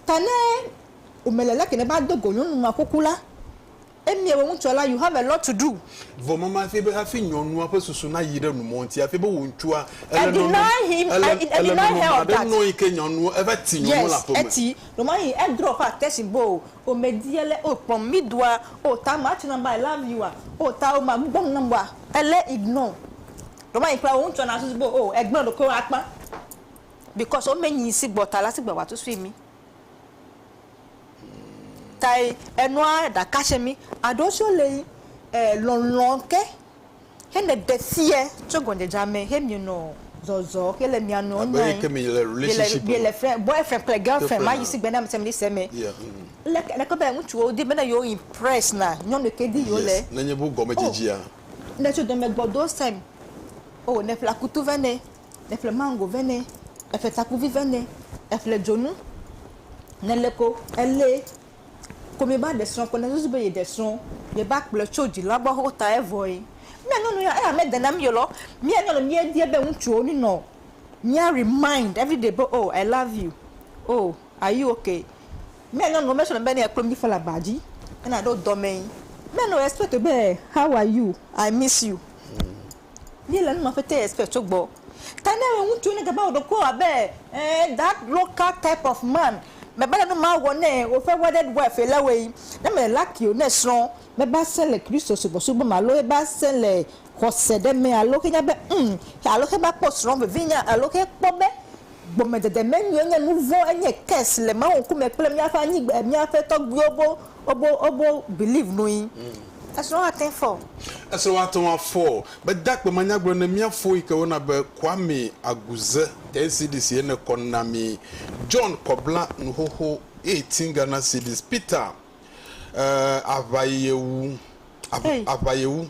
Ta ne ome le leke ne ba dogo nyɔnu ma kuku la. Emie wo ŋutsua la you have a lot to do. Vɔ mama hafi be hafi nyɔnua ƒe susu na yi ɖe nu mɔ ŋti hafi be wo ŋtsua ele nɔnɔ ele nɔnɔ ma ɖe nɔ yi ke nyɔnua eva ti nyɔnua le aƒe me. Yes eti ɖo ma yi e drop attention bo o o me di ele o kpɔm mi doa o ta ma tsina ba i love you a o ta o ma gbugbɔ nu nam wa ele ignore ɖo ma yi kpla wo ŋtsua na susu bo o e gble ɖokoe wa kpa because o me nyi si gbɔ ta la si gbe wa tu sui mi. Kae enɔa ɖaka tsɛ mí aɖo tsɔ le yi e lɔlɔ ke hene ɖe fiɛ tsɔ gɔndzedza mɛ he mì nɔ zɔzɔ ke le mìa nɔ nya yi. Mì le fɛ boyfriend kple girlfriend ma yi sigbe na mi se mi se mɛ. Leke leke be ŋutsuwo di be ne yewo impress na nyɔnu ke di yewo le. Nenye bu gɔmedzedzea. Oh ne tso dɔmɛ gbɔ do sɛn. Oh ne ƒle akutu vɛ nɛ eƒle maŋgo vɛ nɛ, eƒle takuvi vɛ nɛ, eƒle dzonu ne le ko ele ko mi ba ɖe srɔ̃ ko ne susu be yeɖe srɔ̃ mi ba kplɔe tso dzilawo gbɔ xoxo ta evɔe. Mía nyɔnu ya eya mede na mí o lɔ. Mía nyɔnu mía dia be ŋutsuwo nu nɔ mía remind everyday be oh i love you oh are you okay. Mía nyɔnuwo me sɔ na be ne ekplo mí ƒe le aba dzi ne naɖo dɔmee mía nɔ expect be how are you i miss you. míele nu ma ƒe te expect tso gbɔ. Ta ne ame ŋutsu ne gava wɔ ɖokuiwo abe eh that local type of man mebana nu ma wɔ nɛ o woƒe wedded wife ye le wɔe. Ne mele lucky o ne srɔ̃ meva sẽ le Kristo subɔsubɔ me alo eva sẽ le xɔse ɖe me alo xe nya be umm alo xe va kpɔ srɔ̃ vevinya alo xe kpɔ be gɔmedzedze menyo enye nuvɔ̃ enye curse le Mawu ŋkume kple míaƒe anyigba míaƒe tɔgbuiwo bo Wobo wobo believe nui. Esrɔ̃ ate ŋu fɔ. Esrɔ̃ ate ŋu afɔ. Mede akpe manyagblɔ ne mía fo yi ke woyɔna be Kwame Aguze, NCDC ye ne kɔ na mi. John Kɔbla nuxoxo eye tin Ghana cedis. Peter, eh, aʋa ye wu, aʋa, Hey. aʋa ye wu.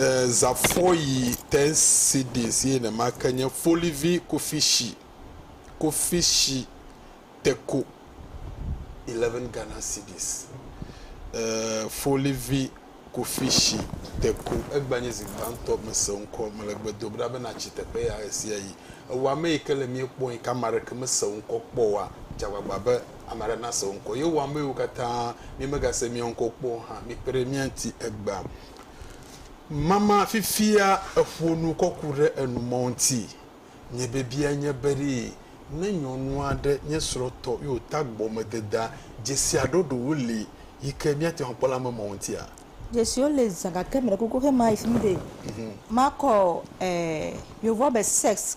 eh, Zafoyi ten cds ye nemake nye folivi kofishi kofishi teko 11 Ghana cedis eh, folivi kofishi teko egba nye zi gbãtɔ mese ŋkɔ mele gbe dom ɖa be natsi teƒe ya ɣesiaɣi ewɔame yi ke le mie kpɔm yi ke ame aɖeke mese ŋkɔ kpɔ oa dze agbagba be Ame aɖe nase wò ŋkɔ. Ye wò amewo katã, mi megase mia ŋkɔ kpɔ o hã, mikpe ɖe mía ŋuti egbea. Mama fifia eƒo nu kɔ ku ɖe enu mawo ŋuti. Nye biabia nye be ɖe ne nyɔnu aɖe nye srɔ̃tɔ ye wòta gbɔmededea, dzesi aɖɔɖowo li yi ke míate ŋu akpɔ le ame mawo ŋutia? Dzesiwo li zã gake meɖe kuku xe mayi fi mi be makɔ eh, Yevoa be sex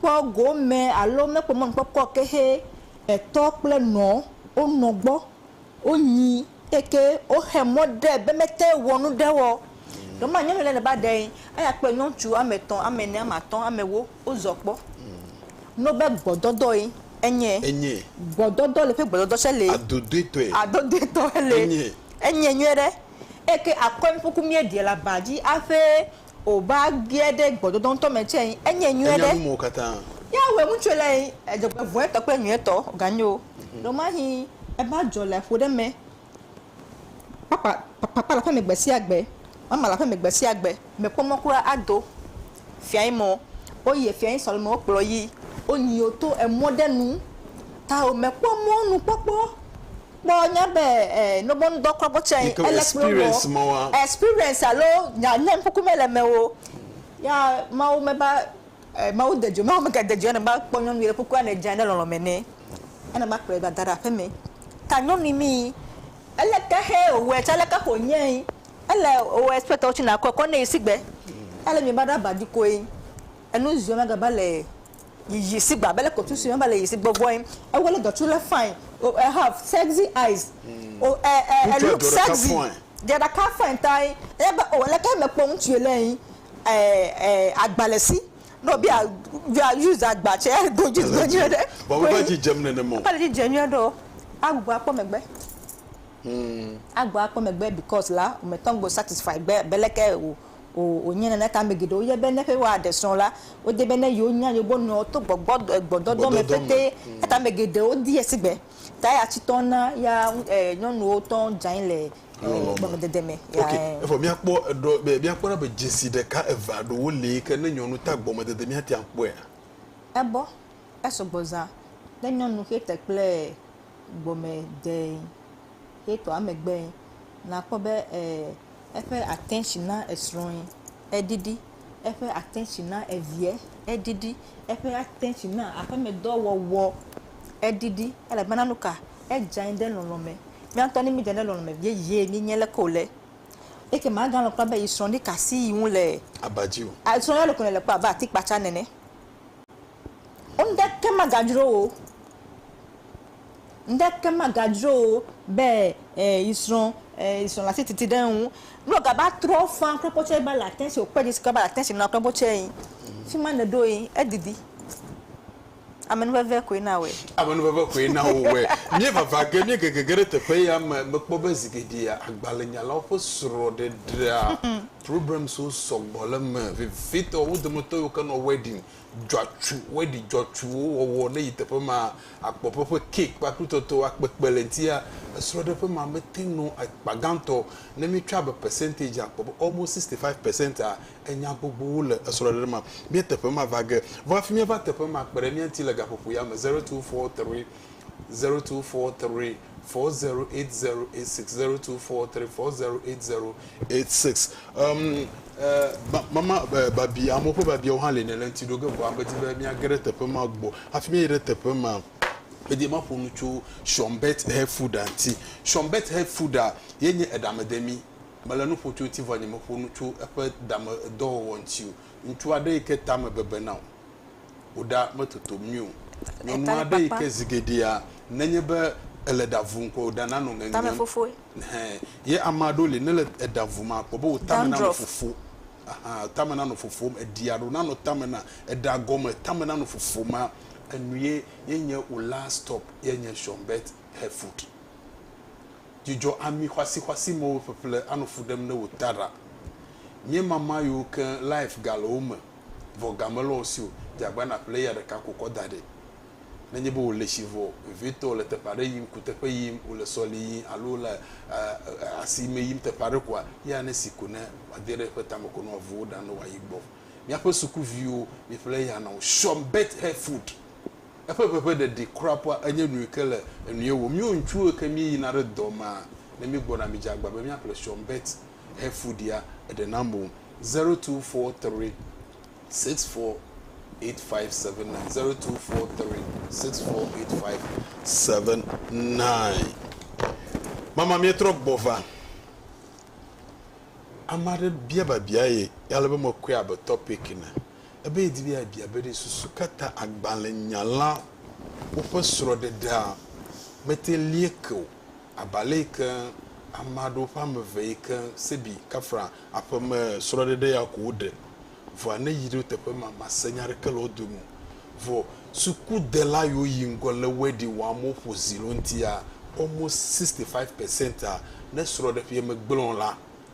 Kpɔ gome alo mekpɔ mɔnukpɔkpɔ ke xe etɔ kple nɔ wo nɔ gbɔ wo nyi eke wo xe mɔ ɖe be mete wɔ nu ɖe wɔ. Ɖe ma nyɔnu ɖe ne ba ɖe aya kpe nyɔtsu ame tɔn ame ne ame atɔ ame wo wo zɔ kpɔ no be gbɔ dɔdɔ ye enye enye gbɔ dɔdɔ le ƒe gbɔ dɔdɔ tse le adodui tɔe adodui tɔ le enye enye nyuie ɖe eke akɔe nuku mie ɖe le aba dzi aƒe. O ba gbie ɖe gbɔdɔdɔ ŋutɔ me tsɛ yi enye nyuie ɖe. Enya nu mɔ katã. Ya wɛ ŋutsuɛ lɛ yi edzɔgbe vɔɛ tɔ kple nyuie tɔ ga nyo. Ɖɔ ma hi eba dzɔ le aƒo ɖe mɛ. Papa papa le aƒe me gbe sia gbe. Mama le aƒe me gbe sia gbe. Me kpɔ mɔ kura ado fia yi mɔ o yi efia yi sɔ le mɔ o kplɔ yi o nyi o to emɔ ɖe nu. Ta o me kpɔ mɔ nukpɔkpɔ kpɔ nye be e nobo ŋdɔ kɔ gbɔ tsɛ Ike ele kplɔ wɔ experience ma wa. experience alo nya nye ŋkuku me le me wo ya mawo me ba e mawo de dzo mawo me ga de dzo ene ba kpɔ nyɔnui le kukua ne dza ne lɔlɔ me nɛ ene ba kplɔe va da ɖa ƒe me ta nyɔnui mi ele ke xe o wɛ tsɛ le ke xo nye ele o expect wo tsi na kɔe kɔ ne yi sigbe ele mi ba ɖa ba dzi koe enu zui ma ga va le yiyi si gba bele kotu si me bele yi si gbɔgbɔ yin e wele dɔ tsu le fine o e have sexy eyes o e e e look sexy dɔ ɖeka fine ta yin e be o leke me kpɔ ŋutsu yi le yin e e agba le si ne o be ya ya use agba tse e do dzi do nyuie ɖe vɔ me va dzi dzem nenema o me va dzi dze nyuie ɖe o a gbɔ a kpɔ megbe a gbɔ a kpɔ megbe because la o me tɔ ŋgbe satisfy gbe be leke o. O, wònye nene ta ame geɖewo yɔ be ne ƒe wuiade srɔ̃ la, wodi be ne yewonya yewo nɔewo to gbɔgbɔ, gbɔdɔdɔ me pɛtɛ. Ekata ame geɖewo di esigbe. Ta eya tsitɔ na ya e, nyɔnuwo tɔ dze anyi le e, gɔmedede me. Ya okay. e. Evɔ míakpɔ eɖɔ be míakpɔ ɖa be dzesi ɖeka, eve alo ɖewo li yi ke ne nyɔnu ta gɔmedede míate ŋu akpɔea? Ebɔ, esɔgbɔ zã. Ne nyɔnu xe te kple e, gɔmedede xetɔa megbe, nàkpɔ be e, eƒe attention na esrɔ̃e eɖiɖi, eƒe attention na eviɛ eɖiɖi, eƒe attention na aƒemedɔ wɔwɔ eɖiɖi elabena nu ka edze anyi ɖe lɔlɔ̃ me. Mía ŋutɔ ne míedze anyi ɖe lɔlɔ̃ me vie yee míenye leke wòle. Eke magalɔ̃ kura be yesrɔ̃ɖi ka si yi ŋu le aba dzi o. Srɔ̃ɖia ɖeko nèle kpɔ abe atikpatsa nene. Ŋɖeke magadzro wò o. Ŋɖeke magadzro wò o be e yi srɔ̃ e yi srɔ̃ le asi titi ɖe eŋu. Ne wògava trɔ fã kple kpɔ tsɛ be le ate si wòkpe dzi si ke be le ate si nɔ kple kpɔ tsɛ yi, fi ma nèɖo yi, edidi. Amenuveve koe na wòe. Amenuveve koe na wòwɔe. Míevava ge, míegege ge ɖe teƒe ya me. Mekpɔ be zi geɖea, agbalẽnyalawo ƒe srɔ̃ɖeɖea, programmes wo sɔgbɔ le eme vevitɔ. Wo dometɔ yiwo ke nɔ wedding dzɔatsu, wedding dzɔatsuwo wɔwɔ ne yi teƒe ma akpɔ ƒe ƒe cake ƒe aklutɔtɔ akpe kpe le ŋuti. Esrɔɖeƒe ma me te ŋu nɔ akpa gãtɔ ne mi tsɔe abe percentage akpɔ be almost sixty five percent a enya gbogbowo le esrɔɖeɖe ma. Mía teƒe ma va ge vɔ hafi mía va teƒe ma kpe ɖe mía ŋuti le gaƒoƒo ya me zero two four three zero two four three. 4080860243 408086 um, Uh, ba, mama uh, eh, babi amewo ƒe babiawo hã le ne le ŋuti ɖo ge vɔa medi be míage ɖe teƒe ma gbɔ hafi míayi ɖe teƒe ma medi ma ƒo nu tso shɔmbet hefuda ŋuti shɔmbet hefuda ye nye eɖamedemi mele nu ƒo tso ŋuti vɔ nye meƒo nu tso eƒe dame dɔwɔwɔ ŋuti o ŋutsu aɖe yi ke tame bebena o wò ɖa metotom nyuie o. Nyɔnu aɖe yi ke zi geɖea nenye be ele ɖa vum koa wò ɖa nanɔ ŋeŋem. Ɛhɛɛ. Ye ame aɖewo li nele eɖa vum akpɔ be wò tame nanɔ fofo. Aha, tame nanɔ fofom. Eɖi aɖewo nanɔ tame na eɖa gɔme tame nanɔ fofom ma enu ye ye nye wò last stop ye nye Shonbet Hair Food. Dzidzɔ ami xɔasixɔasi mewo ƒeƒle anɔ fu ɖem ne wò taɖa. Míemama yiwo keŋ life gale wo me. vɔ ga mele wò si o, dze agbagba nàƒle eya ɖeka ko kɔ da ɖi. Nenye be wòle tsi vɔ vevitɔ, wòle teƒe aɖe yim, kuteƒe yim, wòle sɔli yim alo wòle asime yim teƒe aɖe koa, eya nesi ko ne wòade ɖe eƒe tame ko ne wòavu wò ɖa ne wòayi gbɔ. Míaƒe sukuviwo, miƒle eya na wo. Sean Beth Herford, eƒe ʋeʋẽ ɖeɖi kura ƒua enye nui ke le enue wò. Míwo ŋutsuwo yi ke míeyina ɖe dɔ mea, ne míegbɔna, midze agbagba be míaƒle Sean Beth. hefu ɖia eɖe nam o. Zero two four three six four eight five seven nine zero two four three six four eight five seven nine. Mama mietrɔ gbɔ va. Ame aɖe bia babia ye ale be mekɔe abe topic ne ebe yedi be yabia be ɖe susu ka ta agbalẽnyala woƒe srɔ̃ɖeɖea mete lie ke o. Abe ale yi ke ame aɖewo ƒe ame eve yi ke Sebi Kafra aƒe me srɔ̃ɖeɖe ya ko woɖe. Vɔa ne yi ɖe wo teƒe ma, màse nya aɖeke le wo dome o. Vɔ sukudela yiwo yi ŋgɔ le wedding wɔm woƒo zi le wo ŋuti ya, almost sixty five percent ne srɔ̃ɖeƒea megblẽ o la,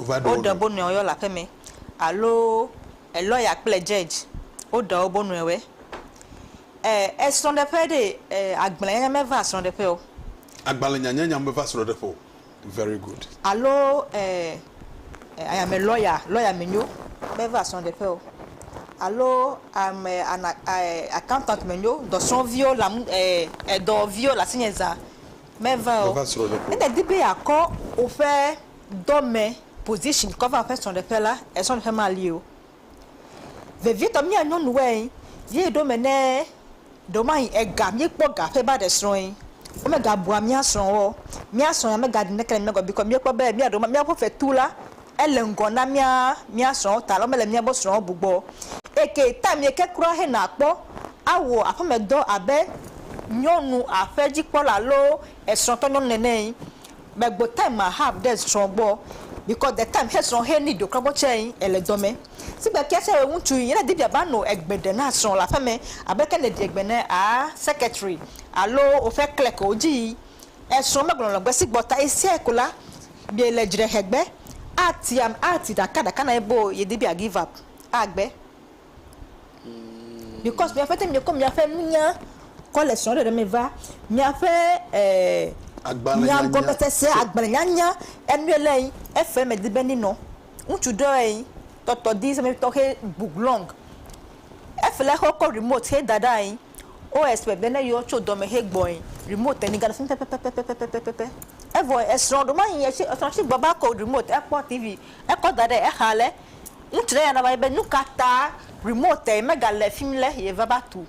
Woɖe bo nɔewo yɔ le aƒeme alo elɔya kple judge woɖe wobo nɔewɔɛ. E esrɔ̃ɖeƒe ɖe e agblẽnyanya meva srɔ̃ɖeƒe o. Agbalẽnyanyanya meva srɔ̃ɖeƒe o. Very good. Alo e ayame lɔya lɔya menyo meva srɔ̃ɖeƒe o. Alo ame ana e accountant menyo dɔsrɔ̃viwo le amu e edɔviwo le asinye zã meva o. Meva srɔ̃ɖeƒe o. Ne èdi be yeakɔ woƒe. dɔme position kɔ va ƒe srɔɖeƒe la esrɔɖeƒe mali o vevietɔ mía nyɔnuwoe ye ɖewo me ne ɖewomahi ega míekpɔ ga ƒe ba ɖe srɔe womega bua mía srɔwo o mía srɔ ya mega ɖi neke le mía gbɔ o bikɔ míekpɔ be mía ɖewo míaƒe fetu la ele ŋgɔ na mía mía srɔwo ta mele míaƒe srɔwo bu gbɔ o eke time yi ke kura hena kpɔ awɔ aƒeme dɔ abe nyɔnu aƒe dzikpɔla alo esrɔtɔ nyɔnu nene Me gbo time ma hab de zrɔn gbɔ because de time he zrɔn he ni do krɔgbɔ tsɛ yin ele dɔ mɛ. Sigbe kia tsɛ wɛ ŋutsu yin ne di bia ba no egbe ɖe na zrɔn le aƒe mɛ abe ke ne ɖi egbe ne a secretary alo oƒe clerk wo dzi yi ezrɔn me gblɔlɔ gbe sigbɔ ta yi sɛ ko la bia le dzi ɖe hegbe a ti am a ti ɖaka ɖaka na yi boo yi di bia give up a gbe. Because miaƒe te miekɔ miaƒe nunya kɔ le srɔ̃ɖeɖe me va, miaƒe nyaŋgɔmesese, agbalẽnyanya, enue le ŋi, efe me di be ni nɔ. Ŋutsu ɖe ɔe ŋi tɔtɔ di seme tɔxe book long. Efe le xɔ kɔ remote xe da ɖa ŋi. O expect be ne yɔ tso dɔme he gbɔe remote teni gale fimi pɛpɛpɛpɛpɛpɛpɛpɛpɛ evɔe esrɔ ɖo manyi ye tsi esrɔ tsi gbɔ va ko remote ekpɔ TV ekɔ da ɖe exa le ŋutsu ɖe ya na va yi be nukata remote me gale fimi le ye va va tu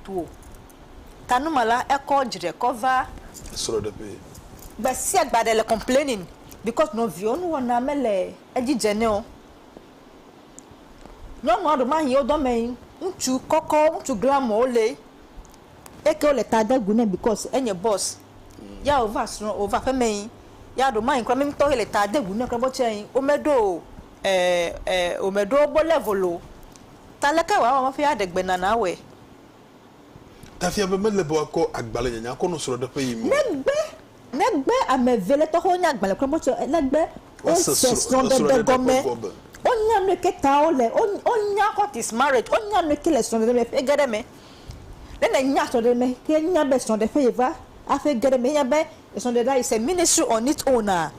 tu o ta nu ma la ekɔ dzre kɔ va esrɔ ɖe ƒee. Gbesiagbe aɖe le complaining because nɔviwo nuwɔna mele edzi dze nɛ o. Nyɔnua ɖe ma yi wo dɔme yi ŋutsu kɔkɔ ŋutsu glamɔ wo le eke wo le ta de gu ne bikɔs enye bɔs ya wo va srɔ wo va ƒeme yi ya ɖo ma yi kura mi ŋutɔ yi le ta de gu ne kura bɔ tsɛ yi wo me ɖo e e wo me ɖo wobe level o ta leke wa wɔ hafi aɖe gbe nana wɛ. Ta fia be mele be woakɔ agbalẽ nyanya akɔ nɔ srɔɖeƒe yi me o. Megbe. Negbe ame ve lé tɔxewo nye agbalẽ klɔm tsɔ le gbe wo se srɔ̃ɖeɖe gɔme, wo nya nuike ta wo le, wo nya what is marriage, wo nya nuike le srɔ̃ɖeɖe me ƒe ge ɖe me. Ne ne nya srɔ̃ɖeɖe me ke nya be srɔ̃ɖe ƒe ye va aƒe ge ɖe me, nya be srɔ̃ɖe ɖa is a ministry on its own a,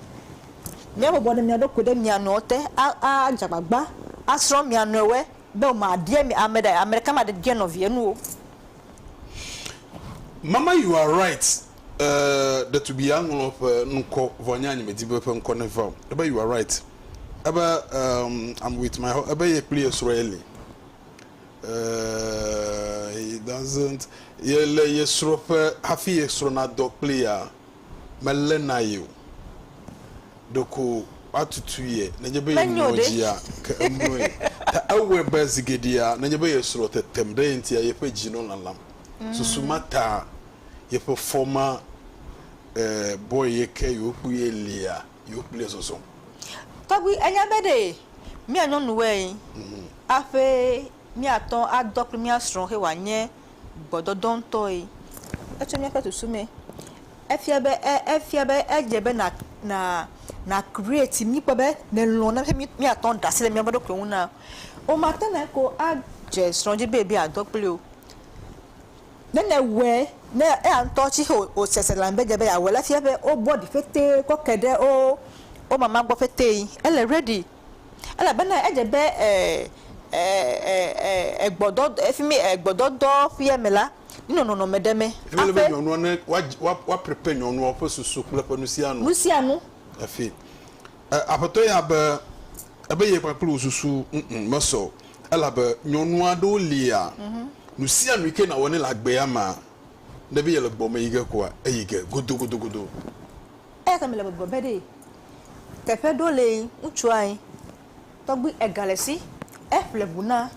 mia bɔbɔ ɖe mia ɖokui ɖe mia nɔewo te a dze agbagba a srɔ̃ mia nɔewoe be wo ma biɛ mi ame ɖe, ame ɖeka ma ɖe biɛ nɔvie nu o. Mama you are right E, ɖetugbi ya ŋlɔ ƒe ŋkɔ vɔ nye anyi medi be ƒe ŋkɔ ne va o. Ebe you are right. Ebe um, I'm with my ho, ebe ye kpli ye srɔ ye li. E, he doesn't, ye le ye srɔ ƒe hafi ye srɔ na dɔ kpli ya, me le na ye o. Ɖeko wa tutu ye nenye be ye mlɔ dzi ya, ke emlɔ ye. Ta ewɔe be zigeɖea nenye be ye srɔ tetem ɖe ye ŋuti ya, ye ƒe dzi nɔ lalam. Susu ma ta yeƒe fɔ ma e bɔe ye ke yewokpui ye lia yewokpui le zɔzɔm. Tɔgbi enya be ɖe mía nyɔnu wɛ yi aƒe mía tɔ adɔ kple mía srɔ̃ xe wa nye gbɔdɔdɔ ŋtɔ yi etso mía ƒe susu me efia be e efia be edze be na na na create mi kpɔ be ne lɔ̃ na mi mía tɔ ɖe asi le mía ɖokui ŋu na o ma te na ko a dze srɔ̃ dzi be be adɔ kpli o. Ne nèwɔe, ne eya ŋutɔ tsi xe wòsese lãme be edze be yeawɔe la, efia be wobɔ ɖi ƒetee kɔ ke ɖe wo wo mama gbɔ ƒetee. Ele ready elabena edze be e e e e egbɔdɔ efi mi egbɔdɔdɔ ƒea me la, nenɔ nɔnɔme ɖe me hafi. Ele be nyɔnua ne woadzi woa woa prepare nyɔnua ƒe susu kple eƒe nusianu. Nusianu. Hafi. E, aƒetɔ ya be, ebe ye kpakple wò susu ŋŋ mesɔ o, elabe nyɔnu aɖewo lia, nu sia nu yi ke nàwɔ nɛ le agbea mea, ne be yele gbɔ me yi ge koa, eyi ge godogodogodo. Eya ta mele gbɔgblɔm be ɖee, teƒe ɖo lee, ŋutsu ae, Tɔgbui ega le si e ƒle ŋu na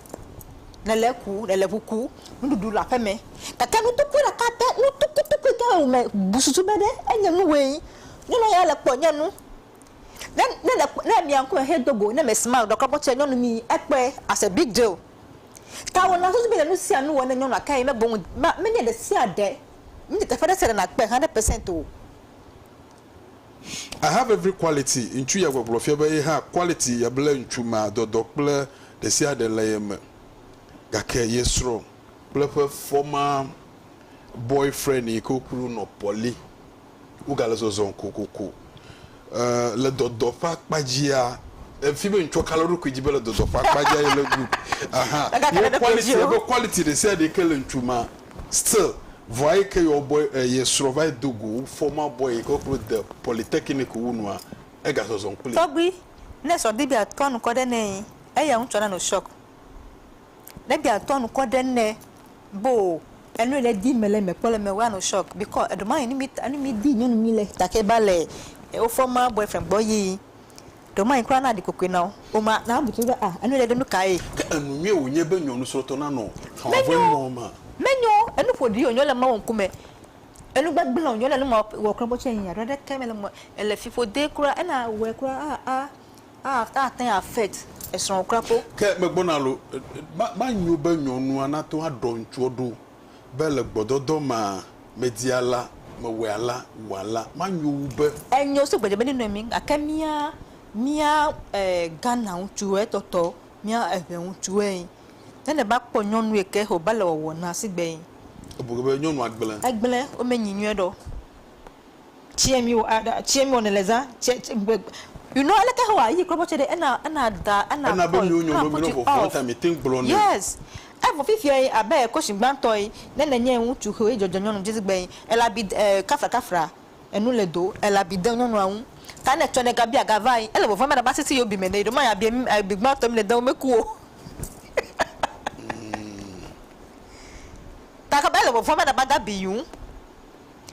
ne le ku ne le ŋu ku nuɖuɖu le aƒe me gake nu tukui ɖeka te nu tukui tukui yi ke le wo me bu susu be ɖe e nye nu woe nyi. Nyɔnua ya le kpɔ nye nu ne ne le kpɔ ne mia ŋkume xe do go ne me smile ɖe kɔkɔ tse nyɔnu mi e kpɔe as a big deal ta wo na susu be le nu sia nu wɔ ne nyɔnua kae me boŋ me nye ɖe sia ɖe me nye teƒe ɖe sia ɖe na kpe hundred percent o. I have every quality ŋutsu ya gbɔgblɔ fia be ye hã quality ya ble ŋutsu ma dɔdɔ kple ɖesiaɖe le ye me gake ye srɔ̃ kple eƒe former boy friend yi ke wokui ɖo nɔ pɔli wogale zɔzɔm kokoko e le dɔdɔ ƒe akpa dzia efi be ŋutsua kale eɖokui dzi be le dɔdɔ ƒe akpa dzia ye le good ahan ye quality ye be quality ɖesiaɖe yi ke le ŋutsu ma Still, vɔa eyi ke yɔ bɔ e ye srɔ va yi do go fɔ ma bɔ yi ke klo de polytechnic wu nua ega zɔzɔm kpli. Tɔgbui, ne srɔ di be a tɔ nukɔ ɖe nɛ yi eya ŋutsɔ na no shock. Ne di a tɔ nukɔ ɖe nɛ bo enu yi le di me le me kpɔ le me wa no shock bikɔ eɖo ma yi ni mi ta ni mi di nyɔnu mi le take ba le e wo fɔ ma boyfriend gbɔ yi Ɖe womanye kura na ɖikokoe na wo o ma na wobu be, A, enu ɖe ɖo nukae? Ke enu nyuie wònye be nyɔnusrɔ̃tɔ nanɔ xɔ̃a ƒe mɔ me. Menyo, enu ƒoɖi wònyo le Mawu ŋkume, enu gbegblẽ wònyo le numewɔ kple mɔtsi enyia? Ɖo aɖeke mele eme o. Ele fiƒodee kura. Ena wòwɔe kura a, a, a, ate ŋu affect esrɔ̃wò kura kpo. Ke megbɔna loo, ma, manyo be nyɔnua nate ŋu aɖɔ ŋutsuɔ ɖo be le gbɔdɔdɔ ma medi ala, mewɔe ala, wò ala, manyo wu be. Enyo so gbedegbe ne nɔe mi gake mía mía e Ghana ŋutsu e tɔtɔ mía eŋɛ ŋutsu e ne ne ba kpɔ nyɔnu e ke ho ba le wɔwɔ na sigbe e. Ebu ge be nyɔnua gble. Egble wo me nyi nyuie ɖɔ. Tse mi wɔ aɖa, tse mi wɔ ne le zã, tse tse gbe. You know aleke he wɔ yi klɔbɔ tse ɖe ena ena da ena Ena be nuwo nyɔnɔ mi nɔ vɔvɔ ŋta mi teŋ gblɔ nɛ. Yes. Evo fifia yi abe kosin gbãtɔ yi ne ne nye ŋutsu xewo yi dzɔdzɔ nyɔnu dzi zigbe yi ela bi de eh kafra kafra enu le do ela bi de nyɔnua ŋu ta ne tsɔ ne ga bia ga va yi ele vɔvɔa be na ba sisi yo bi me ne yi ɖo ma ya bia mi abi gbãtɔ mi ne de wo me ku o ta ka be ele vɔvɔa be na ba ga bi yu.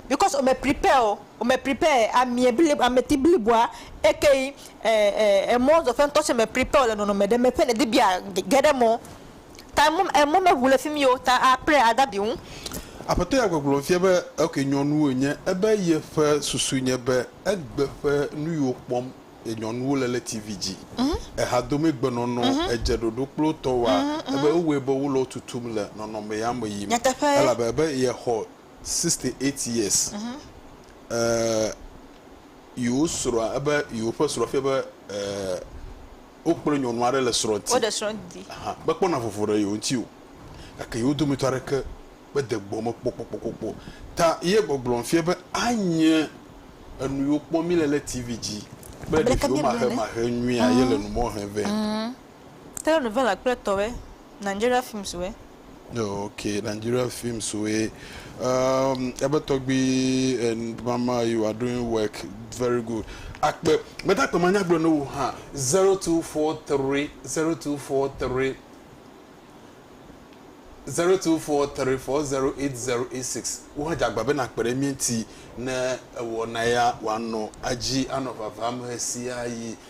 Because ome prepare o, ome prepare amie bli ameti bliboa ekeyi emɔ zɔƒe ŋtɔ tsɛ me prepare o le nɔnɔme ɖe me ƒe nèdi be yeage ɖe emɔ o. Ta emɔ emɔ meŋu le fi mi o ta a pray ada be ŋu. Aƒetɔ ya gbɔgblɔ fia be ok nyɔnuwo enye ebe yeƒe susu nye be egbe ƒe nuyiwo kpɔm ye nyɔnuwo le le TV dzi, ehadomɛ gbenɔnɔ, edze ɖoɖo kple wotɔwoa ebe ewɔe be wole wo tutum le nɔnɔme ya me yim elabe ebe yexɔ sixty eight years eh, yewo srɔ̃a ebe yewo ƒe srɔ̃ fia be eh, wokplɔ nyɔnu aɖe le srɔ̃ ti. Woɖe srɔ̃ di. Aha, mekpɔna vovo ɖe yewo ŋuti o. Gake yewo dometɔ aɖeke mede gbɔ me kpɔkpɔkpɔkpɔ. Ta ye gbɔgblɔm fia be anye enu yiwo kpɔm míle le TV dzi kple ɖeviwo mahemahe nyuia ye le nu mɔ hem vɛ. Telenovela kple tɔwɛ, Nigeria films wɛ. Ok Nigeria films wɛ. Um, ebe tɔgbi and mama you are doing work very good. Akpe, mete akpe ma nya gblɔ ne wo ha. 0243 0243 0243 408086 wo ha jagba be na kpe ɖe mie ŋti ne ewɔ na ya wa nɔ adzi anɔ vava me sia yi.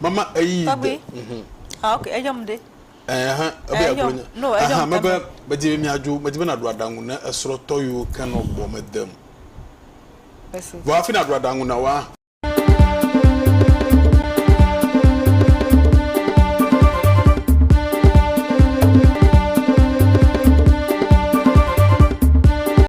Mama eyi de. Mhm. Ah ok, eyɔ m ɖe. Ɛhɛn, eh, ebe agblɔ nya. No, eyɔ m. Aha, mebe medi be miadzo, medi be naɖu aɖaŋu ne esrɔ̃tɔ yiwo ke nɔ gbɔ me dem. Esi. Vɔ hafi naɖu aɖaŋu na woa.